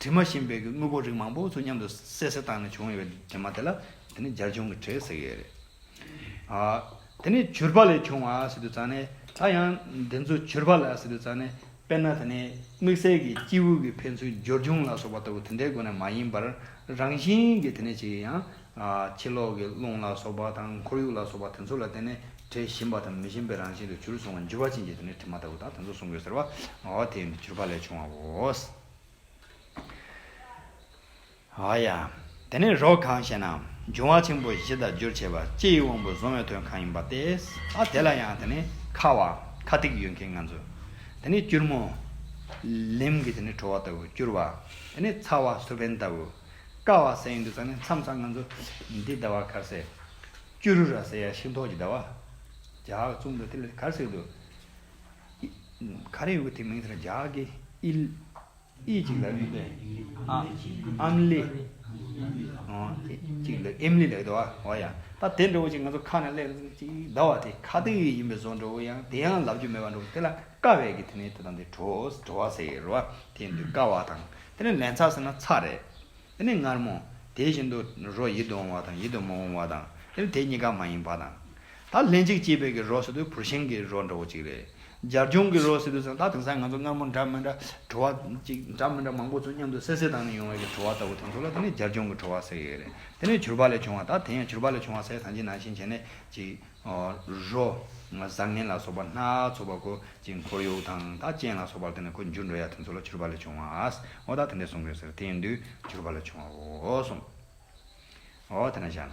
དྲི་མ་ཞེས་འབོད་ཀྱི་དངོས་པོ་རིགས་མང་པོ་ཚོ་མཉམ་དུ་བསྲེ་བསྲེ་བཏང་ནས་བྱུང་བའི་དྲི་མ་དེ་ལ་དེ་ནི་སྦྱར་བྱུང་གི་དྲི་ཟེར་གྱི་ཡོད་རེད། དེ་ནི་བྱུར་བག་ལས་བྱུང་བ་ཟེར་དུས་ཙང་ནས་ད་ཡང་འདི་ཚོ་བྱུར་བག་ལ་ཟེར་དུས་ཙང་ནས་དཔེར་ན་དེ་ནི་དམིགས་བསལ་གྱི་སྐྱེས་བུ་གྱི་ཕན་ཚུན་སྦྱོར་བྱུང་ལ་སོགས་པ་ལྟ་བུ་དེ་འདྲའི་སྒོ་ནས་མ་ཡིན་པར་རང་བཞིན་གྱི་དེ་ནས་ཅིག་ཡིན་ཡང། ཕྱི་ལོགས་ཀྱི་རླུང་ལ་སོགས་པ་དང་ཁོར་ཡུག་ལ་སོགས་པ་དེ་ཚོ་ལ་བརྟེན་ནས་དྲི་ཞིམ་པ་དང་མི་ཞིམ་པའི་རང་བཞིན་དུ་བྱུར་སོང་བ་འཇུ་བ་ཅན་གྱི་དེ་ནི་དྲི་མ་ལྟ་བུ་དང་དེ་ཚོ་གསུང་དགོས་ཟེར་བ། དེ་ཡང་འདི་བྱུར་བག་ལས་བྱུང་བའོ། ཨ་ཡ། དེ་ནས་རོ་གང་ཞེ་ན། འབྱུང་བ་ཆེན་པོ་བཞི་དང་རྒྱུར་བྱས་པ་སྤྱིའི་དབང་པོ་བཟུང་བའི་དོན་གང་ཡིན་པ་སྟེ། ཨ་དེ་ལ་ཡང་དེ་ནི་ཁ་བ། ཁ་ཐིག་ཡོད་མཁན་ང་ཚོ། དེ་ནི་སྐྱུར་མོ། ལིམ་གྱི་དེ་ནི་བྲོ་བ་ལྟ་བུ་སྐྱུར་བ། དེ་ནི་ཚ་བ་སུ་བེན་ལྟ་བུ། ཀ་བ་སེ་ཡིན་དུ་ཚ་ནི་མཚམས་ཚ་ང་ཚོ། འདི་ཟླ་བ་གར་སེ། སྐྱུ་རུ་ར་སེ་ཡ་ཤིང་ཐོག་གི་ཟླ་བ། ཇག་བཙུགས་འདུག་དེ་ལ་གར་སེ་འདུག། ག་རེའི་དེ་མིང་དེ་ར་ཇག་གི་ཨིལ། ཨི་ཅིག་ལ་ཨུས་པན། ཨ་ཨམ་ལི། ཨོ་ཨེ་ཅིག་ལ་ཨེམ་ལི་ལ་ཨོ་ཨོ་ཡ། ད་དེ་འདྲ་བོ་ཅིག་ང་ཚོ་ཁ་ནས་གླེང་ཟིག་ཅིག་ཟླ་བ་དེ་ཁ་ཏི་ཡིན་པའི་བཟོ་འགྲོ་བོ་ཡང་དེ་ཡང་ལབ་རྒྱུ་མེད་པ་འགྲོ་བོ་དེ་ལ་ཀ་བས་ཀྱི་དེ་ནས་དེ་དང་དེ་བྲོ་བྲོ་བ་ཟེར་རོ་དེ་འདུག་ཀ་བ་དང་དེ་ནས་ལན་ཚ་ཟེར་ན་ཚ་རེད། དེ་ནས་མངར་མོ། དེ་བཞིན་དུ་རོ་ཡིད་དུ་འོང་བ་དང་ཡིད་དུ་མ་འོང་བ་དང་དེ་ནས་དེ་གཉིས་ཀ་མ་ཡིན་པ་དང། ད་ལྷན་ཅིག་སྐྱེས་པའི་གི་རོ་ཟེར་དུས་བུར་ཤིང་གི་རོ་འདྲ་བོ་ཅིག་རེད། སྦྱར་རྒྱུང་གི་རོ་ཟེར་དུས་ཙང་ད་དེང་སང་ང་ཚོ་སྔ་མོ་འདྲ་མི་འདྲ་བྲོ་བ་ཅིག་འདྲ་མི་འདྲ་མང་པོ་ཚོ་མཉམ་དུ་སད་སེད་བཏང་ནས་ཡོང་བའི་གི་བྲོ་བ་ལྟ་བུ་དེ་ཚོ་ལ་དེ་ནི་སྦྱར་རྒྱུང་གི་བྲོ་བ་ཟེར་གི་ཡོད་རེད་དེ་ནི་བྱུར་བ་ལས་བྱུང་བ་ད་དེང་ཡང་བྱུར་བ་ལས་བྱུང་བ་ཟས་ཟ་འཇིག་ནང་བཞིན་བྱས་ནས་ཅིག་རོ། བཟང་ངན་ལ་སོགས་པ་སྣ་ཚོགས་པ་གོ་ཅིག་འཁོར་ཡུག་དང་ད་སྤྱན་ལ་སོགས་པར་དེ་ནི་གོ་འགྱུར་འགྲོ་ཡ་དེ་ཚོ་ལ་བྱུར་བ་ལས་བྱུང་བ་ཨོ་ད་དེ་འདྲས་གསུང་གི་ཟེར་དེ་ཡིན་དུས་བྱུར་བ་ལས་བྱུང་བ་འོ་གསུང། འོ་དེ་ན་བཞག་ན།